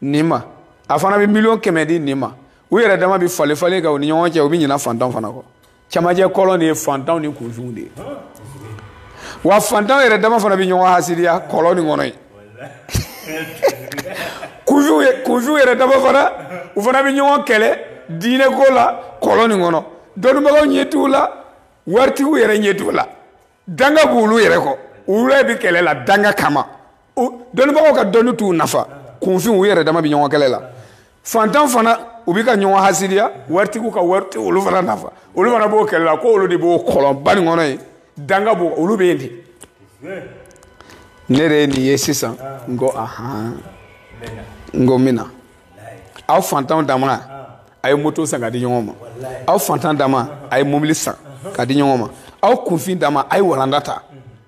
nin ma a fana bɛ miliyɔn kɛmɛ di nin ma u yɛrɛ dama bɛ falen falen kan u ni ɲɔgɔn cɛ u bɛ ɲina fantanw fana kɔ cɛmancɛ kɔlɔn de ye fantanw ni kunfinw de ye wa fantanw yɛrɛ dama fana bɛ ɲɔgɔn hasidiya kɔlɔn nin kɔnɔ yen kunfinw yɛrɛ dama fana u fana bɛ ɲɔgɔn kɛlɛ diinɛ ko la kɔlɔn nin kɔnɔ dɔnnibagaw ɲɛ t'u la waritigiw yɛrɛ ɲɛ t'u la danga b'olu yɛrɛ kɔ olu yɛrɛ bɛ kɛlɛ la danga kama dɔnnibagaw ka dɔnni t'u nafa kunfinw u yɛrɛ dama bɛ ɲɔgɔn kɛlɛ la fantan fana u bɛ ka ɲɔgɔn hasidiya waritigiw ka wari tɛ olu fana nafa olu fana b'o kɛlɛ la ko olu de b'o kɔlɔnba nin kɔnɔ yen danga b'o olu bɛ yen de ne yɛrɛ ye nin ye sisan n ko ahan n ko n bɛ na aw fantanw dama a ye moto san ka di ɲɔgɔn ma aw fantan dama a ye mobili san ka di ɲɔgɔn ma aw kunfin dama a ye walanda ta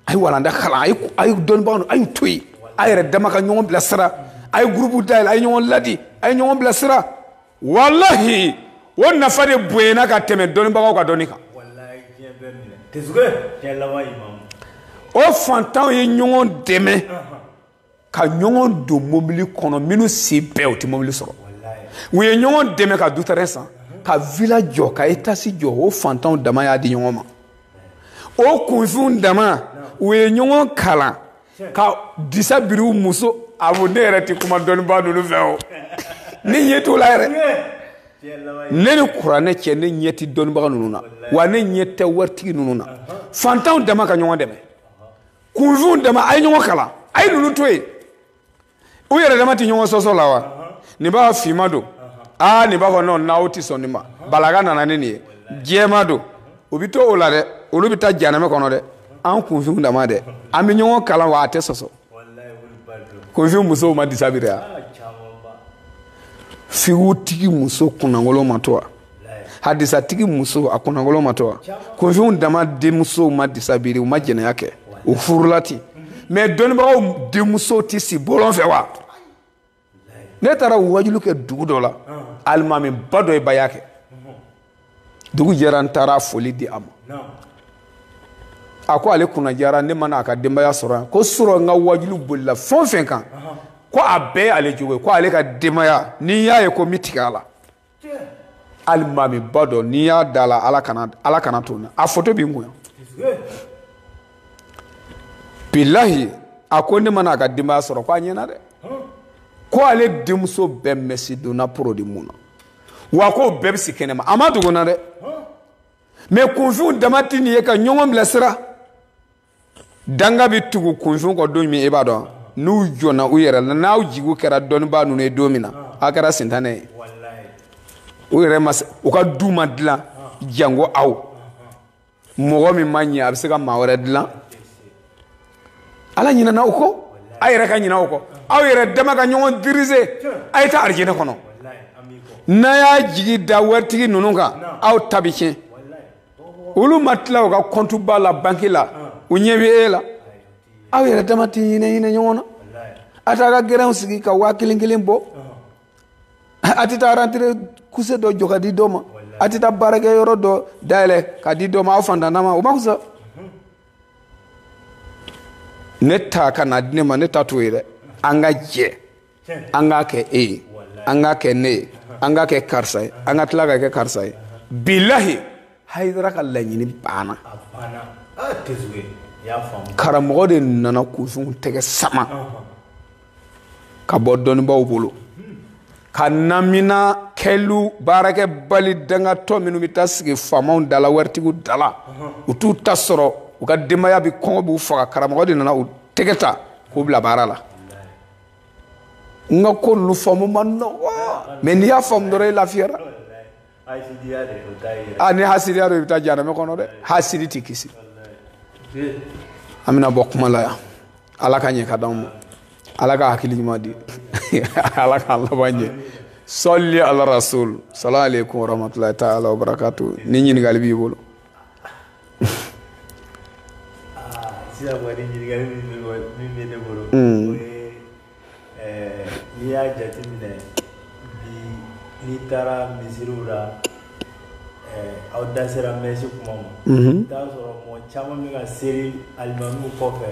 a ye walanda kalan a ye a ye dɔnnibagaw a y'u to yen a yɛrɛ dama ka ɲɔgɔn bilasira a ye gurupu dayɛlɛ a ye ɲɔgɔn ladi a ye ɲɔgɔn bilasira walahi o nafa de bonyana ka tɛmɛ dɔnnibagaw ka dɔnni kan o fantanw ye ɲɔgɔn dɛmɛ ka ɲɔgɔn don mobili kɔnɔ minnu si bɛɛ u tɛ mobili sɔrɔ u ye ɲɔgɔn dɛmɛ ka dutɛrɛn san ka vila jɔ ka etasi jɔ o fantanw dama y'a di ɲɔgɔn ma o kunfinw dama u ye ɲɔgɔn kalan ka disa biri u muso a ko ne yɛrɛ tɛ kuma dɔnnibaa ninnu fɛ o ne ɲɛ t'o la yɛrɛ ne ni kuranɛ cɛ ne ɲɛ tɛ dɔnnibaga ninnu na wa ne ɲɛ tɛ waritigi ninnu na fantanw dama ka ɲɔgɔn dɛmɛ kunfinw dama a ye ɲɔgɔn kalan a ye ninnu to yen u yɛrɛ dama tɛ ɲɔgɔn sɔsɔ la wa nin b'a fɔ finma don aa nin b'a fɔ nɔn n'aw tɛ sɔn nin ma balaga nana ni nin ye jɛma don u bɛ to o la dɛ olu bɛ taa janɛmɛ kɔnɔ dɛ an kunfinw dama dɛ an bɛ ɲɔgɔn kalan wa a tɛ sɔsɔ kunfinw musow ma disa biri wa figutigi muso kunnankolon ma to wa hadisatigi muso a kunnankolon ma to wa kunfinw dama denmusow ma disa biri u ma jɛnɛya kɛ u furula ten mɛ dɔnnibagaw denmusow tɛ si bɔlɔn fɛ wa ne taara wajulu kɛ dugu dɔ la alimamiba dɔ ye baya kɛ dugu jɛra n taara foli di a ma a ko ale kunna jara ne ma na a ka denbaya sɔrɔ yan ko sɔrɔ n ka wajulu bolila fɛn o fɛn kan ko a bɛɛ y'ale jogo ye ko ale ka denbaya n'i y'a ye ko n bɛ tigɛ a la alimami ba dɔ n'i y'a da la ala kana to n na a foto bi n kun yan bilahi a ko ne mana a ka denbaya sɔrɔ ko a ɲɛna dɛ ko ale denmuso bɛɛ mɛsi donna porodi mun na wa k'o bɛɛ bɛ si kɛnɛma a ma dogo na dɛ mɛ kunfinw dama tɛ nin ye ka ɲɔgɔn bilasira danga bɛ tugu kunfinw kɔ don min e b'a dɔn n'u jɔnna u yɛrɛ la n'aw jigiw kɛra dɔnnibaa ninnu ye don min na a kɛra sintanɛ ye u yɛrɛ ma u ka du ma dilan jango aw mɔgɔ min ma ɲɛ a bɛ se ka maa wɛrɛ dilan ala ɲinɛna u kɔ a yɛrɛ ka ɲinɛ u kɔ aw yɛrɛ dama ka ɲɔgɔn dirize a ye taa arijinɛ kɔnɔ n'a y'a jigi da waritigi ninnu kan aw ta bɛ tiɲɛ olu ma tila u ka kɔntuba la banki la u ɲɛ bɛ e la aw yɛrɛ dama tɛ hinɛ hinɛ ɲɔgɔn na a t'a ka gɛrɛnw sigi ka waa kelen kelen bɔ a tɛ taa rantere kuse dɔ jɔ ka di dɔ ma a tɛ taa baarakɛ yɔrɔ dɔ dayɛlɛ ka di dɔ ma aw fantan dama o ma fisa ne ta ka na di ne ma ne ta t'o ye dɛ an ka jɛ an k'a kɛ e ye an k'a kɛ ne ye an k'a kɛ karisa ye an ka tila ka kɛ karisa ye bilahi hayidara ka laɲini banna karamɔgɔ de nana kunfinw tɛgɛ sama ka bɔ dɔnnibaaw bolo ka namina kɛlu baarakɛ bali dangatɔ minnu bɛ taa sigi faamaw dala waritigiw dala u t'u ta sɔrɔ u ka denbaya bɛ kɔngɔ b'u faga karamɔgɔ de nana u tɛgɛ ta k'u bila baara la n ka ko ninnu faamu man nɔgɔ mɛ n'i y'a faamu dɔrɔn i lafiyara a ni hasidiya don i bɛ taa janamɛ kɔnɔ dɛ hasidi tɛ kisi an bɛna bɔ kuma la yan ala k'a ɲɛ ka d'anw ma ala ka hakili ɲuman di ala k'an laban ɲɛ sɔli ala rasul salamu aleykum warahmatulahi taala wabarakatu ni ɲininkali b'i bolo sisan kɔni ɲininkali min bɛ ne bolo. o ye ɛɛ n'i y'a jateminɛ bi n'i taara misiriw la ɛɛ aw da sera mɛsi kuma ma. i bɛ t'a sɔrɔ mɔgɔ caman bɛ ka seli alimamiw kɔfɛ.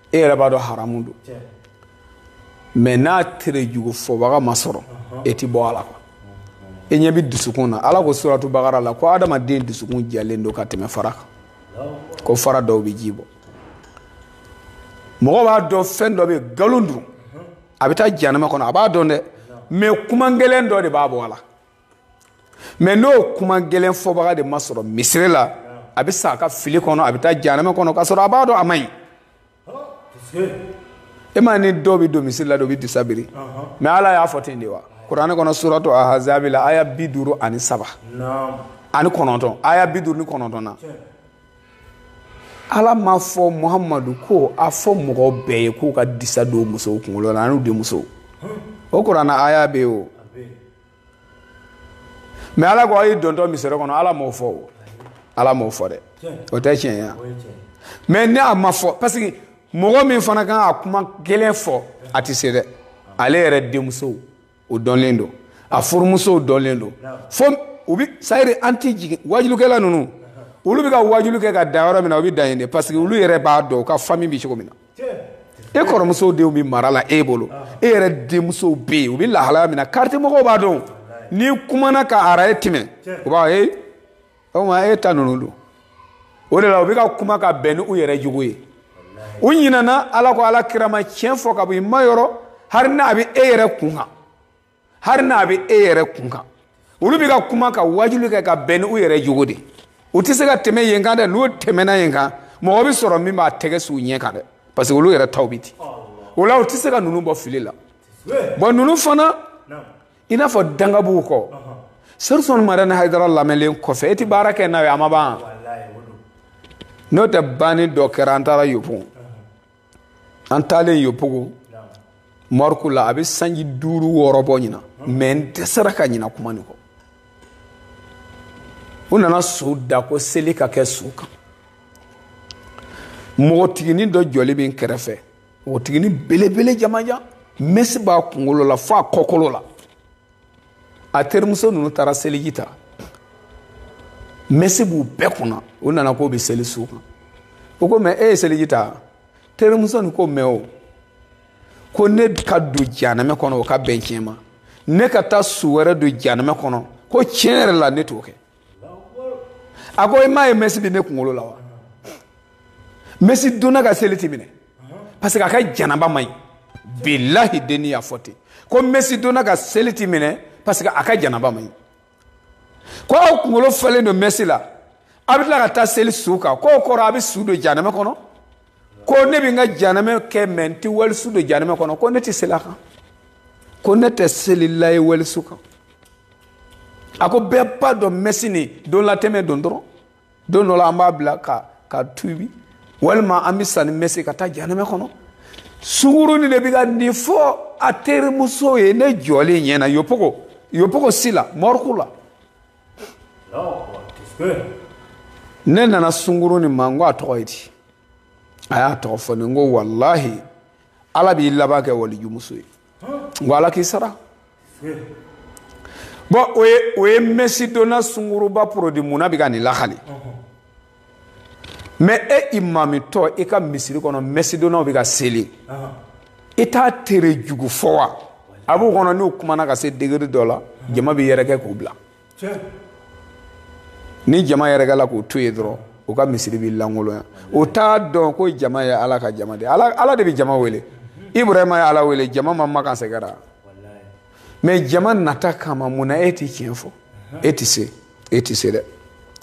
e yɛrɛ b'a dɔn haramu don mɛ n'a tere jugu fɔbaga ma sɔrɔ e ti bɔ a la e ɲɛ bɛ dusukun na ala ko suratu bakara la ko adamaden dusukun jalen don ka tɛmɛ fara kan ko fara dɔw bɛ ji bɔ mɔgɔ b'a dɔn fɛn dɔ bɛ nkalon don a bɛ taa janama kɔnɔ a b'a dɔn dɛ mɛ kuma gɛlɛn dɔ de b'a bɔ a la mɛ n'o kuma gɛlɛn fɔbaga de ma sɔrɔ misiri la a bɛ sa a ka fili kɔnɔ a bɛ taa janamɛ kɔnɔ k'a sɔrɔ a b'a dɔn a man ɲi e ma ni dɔw bɛ don misiri la dɔw bɛ disa biri mɛ ala y'a fɔ ten de wa kuranɛ kɔnɔ suratu ahazabi la aya bi duuru ani saba ani kɔnɔntɔn aya bi duuru ni kɔnɔntɔn na ala ma fɔ muhamadu ko a fɔ mɔgɔ bɛɛ ye k'u ka disa don musow kunkolo la an'u denmusow o kuranɛ aya bɛ yen o mɛ ala ko a ye dontɔ misiri kɔnɔ ala m'o fɔ o ala m'o fɔ dɛ o tɛ tiɲɛ ye mɛ ni a ma fɔ parce que mɔgɔ min fana kan a kuma gɛlɛn fɔ a tɛ se dɛ ale yɛrɛ denmusow o dɔnlen don a furumusow dɔnlen don fo u bi sayiri an ti jigin wajulukɛla ninnu olu bɛ ka wajulu kɛ ka dan yɔrɔ min na u bɛ dan yen de parce que olu yɛrɛ b'a dɔn u ka fami bɛ cogo min na e kɔrɔmusow denw bɛ mara la e bolo e yɛrɛ denmusow bɛ yen u bɛ lahalaya min na kariti mɔgɔw b'a dɔn n'i kumana ka ara e tɛmɛ u b'a fɔ i ma e ta ninnu dun o de la u bɛ ka kuma ka bɛn ni u yɛrɛ jogo ye u ɲinɛna ala ko ala kira ma tiɲɛ fɔ ka bɔ i ma yɔrɔ hari n'a bɛ e yɛrɛ kun kan hari n'a bɛ e yɛrɛ kun kan olu bɛ ka kuma ka wajuli kɛ ka bɛn ni u yɛrɛ jogo de u tɛ se ka tɛmɛ yen kan dɛ n'u tɛmɛna yen kan mɔgɔ bɛ sɔrɔ min b'a tɛgɛ s'u ɲɛ kan dɛ parce que olu yɛrɛ taw bɛ ten o la u tɛ se ka ninnu bɔ fili la bɔn ninnu fana i n'a fɔ dangabuw kɔ serifu usman madani hayidara lamɛnlen kɔfɛ e tɛ baara kɛ n'a ye a ma ban n'o tɛ banni dɔ kɛra an taara yopon an taalen yopogo marɔku la a bɛ sanji duuru wɔɔrɔ bɔ ɲinan mɛ n dɛsɛra ka ɲina kuma nin kɔ u nana su da ko seli ka kɛ su kan npogotiginin dɔ jɔlen bɛ n kɛrɛfɛ npogotiginin belebele jamajan mɛsi b'a kunkolo la f'a kɔkolo la a terimuso ninnu taara seliji ta mɛsi b'u bɛɛ kunna u nana k'u bɛ seli su kan o ko mɛ e ye seliji ta terimuso nin ko mɛ o ko ne ka don janamɛ kɔnɔ o ka bɛn tiɲɛ ma ne ka taa su wɛrɛ don janamɛ kɔnɔ ko tiɲɛ yɛrɛ la ne t'o kɛ a ko i m'a ye mɛsi bɛ ne kunkolo la wa mɛsi donna ka seli ti minɛ parce que a ka janaba man ɲi bilahi denni y'a fɔ ten ko mɛsi donna ka seli ti minɛ parce que a ka janaba man ɲi ko aw kunkolo falen don mɛsi la a bɛ tila ka taa seli su kan k'o kɔrɔ a bɛ su don janamɛ kɔnɔ ko ne bɛ n ka janamɛ kɛ mɛ n tɛ walisu don janamɛ kɔnɔ ko ne tɛ seli a kan ko ne tɛ selila ye walisu kan a ko bɛɛ b'a dɔn mɛsi nin donlatɛmɛ don dɔrɔn don dɔ la an b'a bila ka tubi walima an bɛ sa ni mɛsi ka taa janamɛ kɔnɔ sunkurunin de bɛ ka nin fɔ a terimuso ye ne jɔlen ɲɛna yopogo yopogo si la mɔriku la ne nana sunkurunin ma n ko a tɔgɔ ye di a y'a tɔgɔ fɔ ne n ko walahi ala b'i laban kɛ walijumuso ye n ko ala k'i sara bɔn o ye mɛsi donna sunguruba porodi munna bɛ ka nin lahali mɛ e imamitɔ i ka misiri kɔnɔ mɛsi donnaw bɛ ka seli i t'a tere jugu fɔ wa a b'u kɔnɔ n'u kumana ka se degeri dɔ la jama bɛ yɛrɛkɛ k'u bila ni jama yɛrɛkɛla k'u to yen dɔrɔn u ka misiri bɛ lankolonya u t'a dɔn ko jama ye ala ka jama de ala de bɛ jama wele ibrahima ye ala wele jama ma makan sɛgɛra mɛ jama nata kama mun na e tɛ tiɲɛ fɔ e tɛ se e tɛ se dɛ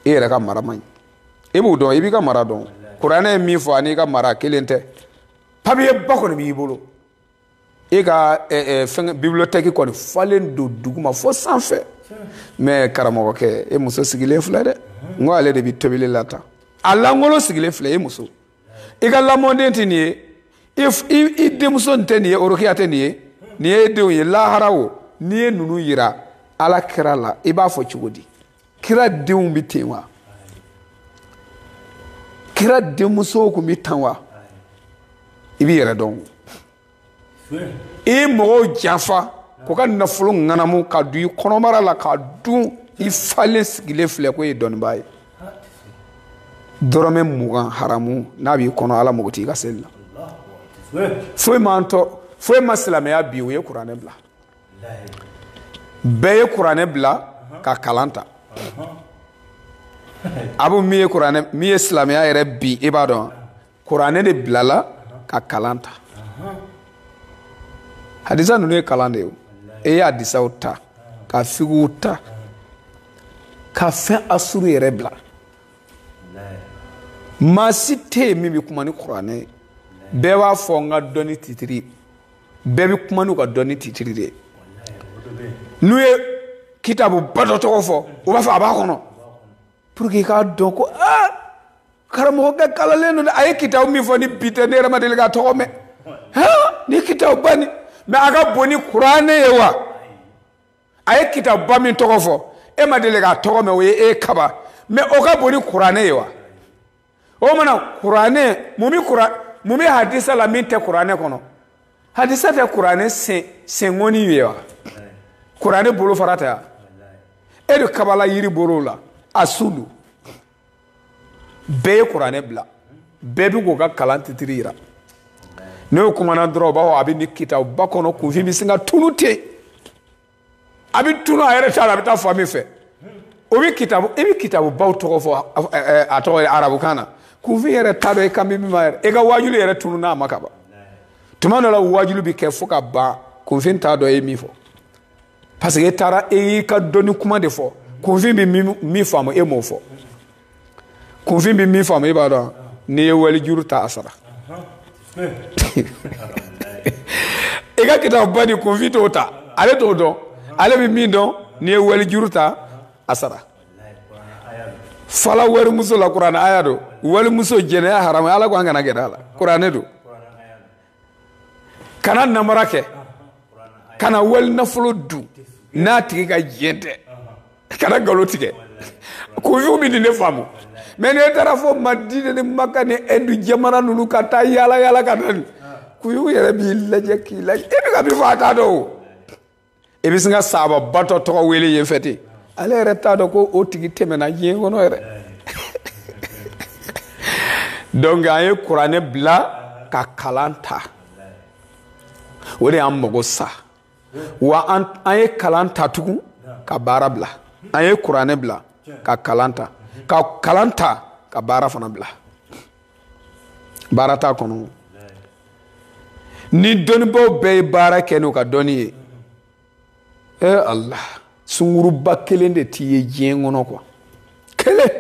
e yɛrɛ ka mara man ɲi e b'o dɔn i b'i ka mara dɔn kuranɛ ye min fɔ an'i ka mara kelen tɛ papiye ba kɔni b'i bolo e ka fɛn bibiliyotɛki kɔni falen don duguma fo sanfɛ mɛ karamɔgɔkɛ e muso sigilen filɛ dɛ n ko ale de bɛ tobili la tan a lankolon sigilen filɛ e muso i ka lamɔden tɛ nin ye i denmuso nin tɛ nin ye orokiya tɛ nin ye nin ye e denw ye lahara o n'i ye ninnu yira ala kira la i b'a fɔ cogo di kira denw bɛ ten wa kira denmusow tun bɛ tan wa i b'i yɛrɛ dɔn i ye mɔgɔw janfa k'u ka nafolo ŋanamu ka don i kɔnɔbara la k'a dun i falen sigilen filɛ ko i ye dɔnnibaa ye dɔrɔmɛ mugan haramu n'a b'i kɔnɔ ala mago t'i ka seli la foyi m'an tɔ foyi ma silamɛya bin u ye kuranɛ bila bɛɛ ye kuranɛ bila ka kalan ta abu min ye kuranɛ min ye silamɛya yɛrɛ bin i b'a dɔn kuranɛ de bilala ka kalan ta hadisa ninnu ye kalan de ye e ye hadisaw ta ka figiw ta ka fɛn asuru yɛrɛ bila maa si tɛ yen min bɛ kuma ni kuranɛ ye bɛɛ b'a fɔ n ka dɔnni titiri bɛɛ bɛ kuma n'u ka dɔnni titiri de ye n'u ye kitabu ba dɔ tɔgɔ fɔ u b'a fɔ a b'a kɔnɔ pour que i k'a dɔn ko aa karamɔgɔkɛ kalannen don dɛ a ye kitabu min fɔ ni bi tɛ ne yɛrɛ ma deli k'a tɔgɔ mɛn nin kitabu ba nin mɛ a ka bon ni kuranɛ ye wa a ye kitabu ba min tɔgɔ fɔ e ma deli k'a tɔgɔ mɛn o ye e kaba mɛ o ka bon ni kuranɛ ye wa o mana kuranɛ mun bɛ kuran mun bɛ hadisa la min tɛ kuranɛ kɔnɔ hadisa tɛ kuranɛ sen senkɔni ye wa kuranɛ bolofara tɛ wa e de ka balan yiri bolo la a sun dun bɛɛ ye kuranɛ bila bɛɛ bɛ k'u ka kalan titiri yira n'o kumana dɔrɔn u b'a fɔ a bɛ nin kitabuba kɔnɔ kunfin bɛ sin ka tunu ten a bɛ tunu a yɛrɛ t'a dɔn a bɛ taa fan min fɛ o bɛ kitabu i bɛ kitabubaw tɔgɔ fɔ a tɔgɔ ye arabukan na kunfin yɛrɛ t'a dɔn i kan bɛ min ma yɛrɛ e ka waajuli yɛrɛ tununa a ma ka ban tuma dɔ la waajuli bɛ kɛ fo ka ban kunfin t'a dɔn e ye min fɔ parce que e taara e y'i ka dɔnni kuma de fɔ kunfin bɛ min faamu e m'o fɔ kunfin bɛ min faamu e b'a dɔn n'i ye wali juru ta a sara i ka kitabuba nin kunfin t'o ta ale t'o dɔn ale bɛ min dɔn n'i ye wali juru ta a sara fara walimuso la kuranɛ aya don walimuso jɛnɛya haramu ala ko an kana gɛrɛ a la kuranɛ don kana namara kɛ kana wali nafolo dun n'a tigi ka diɲɛ tɛ kana nkalon tigɛ kunfinw bɛ nin de faamu mais n'e taara fo madina ni maka ni ɛndu jamana ninnu ka taa yaala yaala ka na nin kunfin yɛrɛ b'i lajɛ k'i lajɛ e bɛ ka min fɔ a t'a dɔn o i bɛ sin ka saababa dɔ tɔgɔ wele yen fɛ ten ale yɛrɛ t'a dɔn ko o tigi tɛmɛna diɲɛ kɔnɔ yɛrɛ donc an ye kuranɛ bila ka kalan ta o de y'an mago sa wa an ye kalan ta tugun ka baara bila an ye kuranɛ bila ka kalan ta ka kalan ta ka baara fana bila baara t'a kɔnɔ ni dɔnnibaaw bɛɛ ye baara kɛ n'u ka dɔnni ye e ala sungurunba kelen de tɛ ye diɲɛ kɔnɔ quoi kelen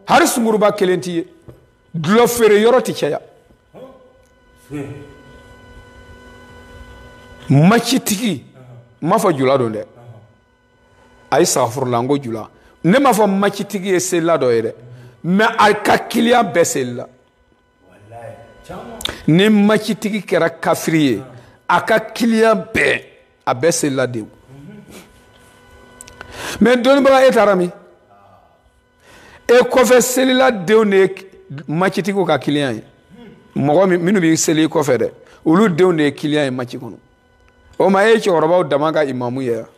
hali sungurunba kelen tɛ ye dulɔ feere yɔrɔ tɛ caya macitigi n m'a fɔ jula don dɛ ayi sagafurula n ko jula ne m'a fɔ macitigi ye selila dɔ ye dɛ mais a ka kiliyan bɛɛ selila ni macitigi kɛra kafiri ye a ka kiliyan bɛɛ a bɛɛ selila denw mais dɔnnibaga e taara min e kɔfɛ selila denw de ye macitigiw ka kiliyan ye mɔgɔ minnu bɛ seli i kɔfɛ dɛ olu denw de ye kiliyan ye maci kɔnɔ o ma e ye cɛkɔrɔbaw dama ka imamu ye wa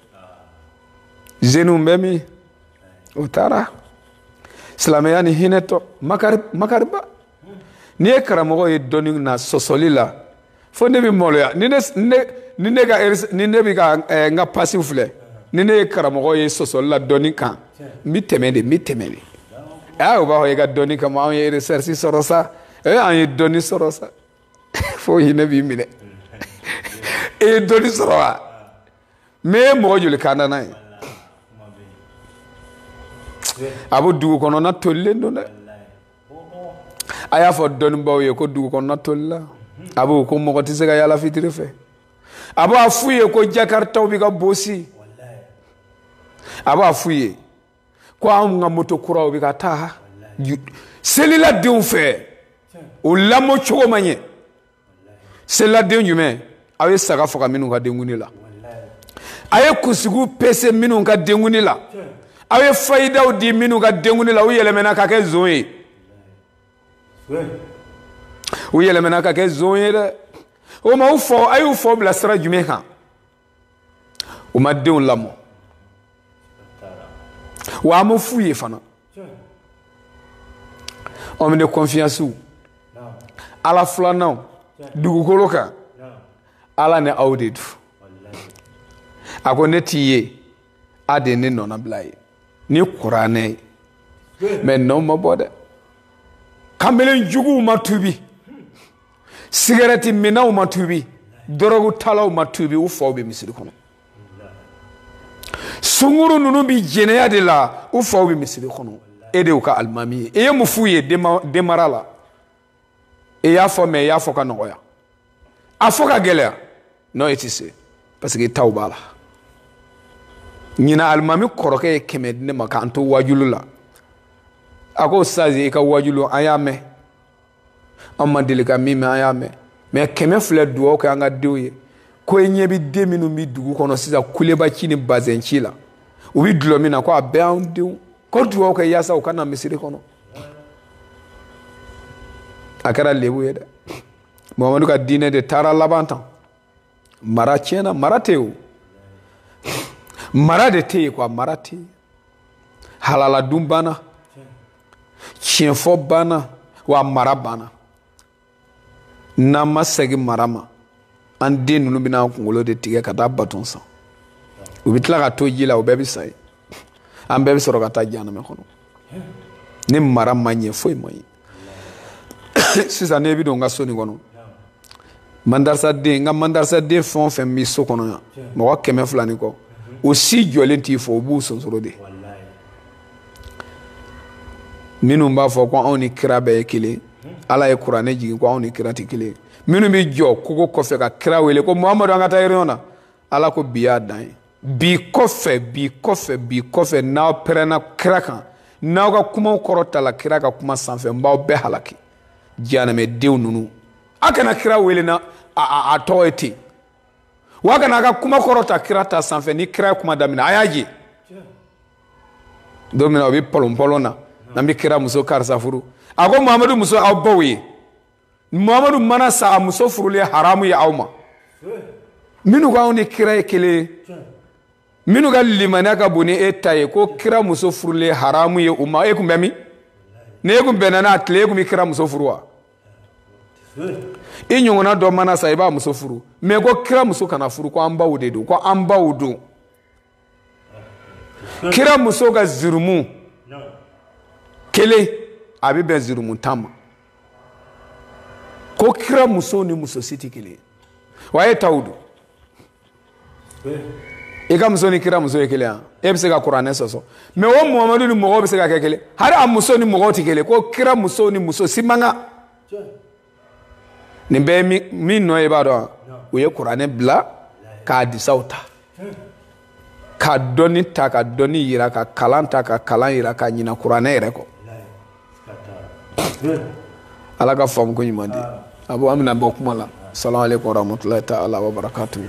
zeniw bɛ min o taara silamɛya ni hinɛ tɔ makari makariba n'i ye karamɔgɔ ye dɔnni na sɔsɔli la fo ne bɛ maloya ni ne ne ni ne ka ni ne bɛ ka eh, n ka pasiw filɛ ni ne ye karamɔgɔ ye sɔsɔli la dɔnni kan n bɛ tɛmɛ de n bɛ tɛmɛ de aa o b'a fɔ i ka dɔnni kama anw ye recherche sɔrɔ sa ee an ye dɔnni sɔrɔ sa. fo hinɛ b'i minɛ e ye dɔnni sɔrɔ wa mais e ye mɔgɔ joli kanda n'a ye a bɛ dugu kɔnɔna tolilen don dɛ a y'a fɔ dɔnnibaaw ye ko dugu kɔnɔna tolila a b'o ko mɔgɔ tɛ se ka yaala fitiri fɛ a b'a f'u ye ko jakaritaw bɛ ka bosi a b'a f'u ye ko anw ka moto kuraw bɛ ka ta seliladenw fɛ u lamɔ cogo man ɲɛ seliladen jumɛn aw ye saga faga minnu ka denkundi la a ye kunsigiw pese minnu ka denkundi la aw ye fayidaw di minnu ka denkundi la u yɛlɛmɛna ka kɛ zon ye u yɛlɛmɛna ka kɛ zon ye dɛ o ma u faw a y'u faw bila sira jumɛn kan u ma denw lamɔ wa an m'a f'u ye fana homme de confiancew ala filananw dugukolo kan ala ni aw de don a ko ne tɛ yen aw de ne nɔnabila ye ni kuranɛ ye mais nɔ ma bɔ dɛ kamalen juguw ma tubi sigɛrɛti minnaw ma tubi dɔrɔgu talaw ma tubi u faw bɛ misiri kɔnɔ sunguru ninnu bɛ jɛnɛya de la u faw bɛ misiri kɔnɔ e de y'u ka alimami ye e ye mun f'u ye denmara la e y'a fɔ mais e y'a fɔ ka nɔgɔya a fɔ ka gɛlɛya non e tɛ se parce que e taw b'a la ɲinan alimami kɔrɔkɛ ye kɛmɛ di ne ma k'an to wajulu la a ko sazi i ka wajulu an y'a mɛn an ma deli ka min mɛn an y'a mɛn mais kɛmɛ filɛ dugawu kɛ an ka denw ye ko i ɲɛ bɛ den minnu bɛ dugu kɔnɔ sisan kuleba ci ni bazɛn ci la u bɛ dulɔ min na ko a bɛɛ y'an denw ko dugawu kɛ yaasa u ka na misiri kɔnɔ a kɛra lebu ye dɛ muhamadu ka diinɛ de taara laban tan mara tiɲɛna mara tɛ o mara de tɛ yen quoi mara tɛ yen halala dun banna tiɲɛfɔ banna wa mara banna n'an ma segin mara ma an den ninnu bɛna an kunkolo de tigɛ ka taa baton san u bɛ tila ka to ji la u bɛɛ bɛ sa ye an bɛɛ bɛ sɔrɔ ka taa janamɛ kɔnɔ ni mara ma ɲɛ foyi ma ɲɛ sisan ne bɛ don n ka so nin kɔnɔ mandarisaden n ka mandarisaden fɛn o fɛn bɛ so kɔnɔ yan mɔgɔ kɛmɛ fila ni kɔ o si jɔlen t'i fɔ u b'u sonsoro de minnu b'a fɔ ko anw ni kira bɛɛ ye kelen ala ye kuranɛ jigin ko anw ni kira tɛ kelen minnu bɛ jɔ kogo kɔfɛ ka kira wele ko muhamadu an ka taa réunion na ala ko bi y'a dan ye bi kɔfɛ bi kɔfɛ bi kɔfɛ n'aw pɛrɛnna kira kan n'aw ka kumaw kɔrɔtala kira ka kuma sanfɛ n b'aw bɛɛ halaki jahanamɛdenw ninnu a kana kira wele na a, a tɔgɔ ye ten wa kana a ka kuma kɔrɔta kira ta sanfɛ ni kira ye kuma daminɛ a y'a je don min na o bɛ pɔlɔnpɔlɔn na n'an bɛ kira muso karisa furu a ko muhamadu muso aw baw ye muhamadu mana sa a muso furulen haramu ye aw ma minnu k'anw ni kira ye kelen ye minnu ka limaniya ka bon ni e ta ye ko kira muso furulen haramu ye u ma e tun bɛ min ni e tun bɛnna n'a tile e tun bɛ kira muso furu wa i ɲɔgɔnna dɔ mana sa i b'a muso furu mɛ ko kira muso kana furu ko an baw de don ko an baw don kira muso ka zirumu kelen a bɛ bɛn zirumu tan ma ko kira muso ni muso si tɛ kelen wa e taw don i ka muso ni kira muso ye kelen yan e bɛ se ka kuranɛ sɔsɔ mɛ o muhamadu ni mɔgɔw bɛ se ka kɛ kelen hali a muso ni mɔgɔw tɛ kelen ko kira muso ni muso si man kan nin bɛɛ ye min nɔ ye i b'a dɔn u ye kuranɛ bila ka hadisaw ta ka dɔnni ta ka dɔnni yira ka kalan ta ka kalan yira ka ɲina kuranɛ yɛrɛ kɔ ala ka faamu ko ɲuman di a bɔ an bɛna bɔ kuma la salamu aleykum warahmatulahi taala wabarakatuhu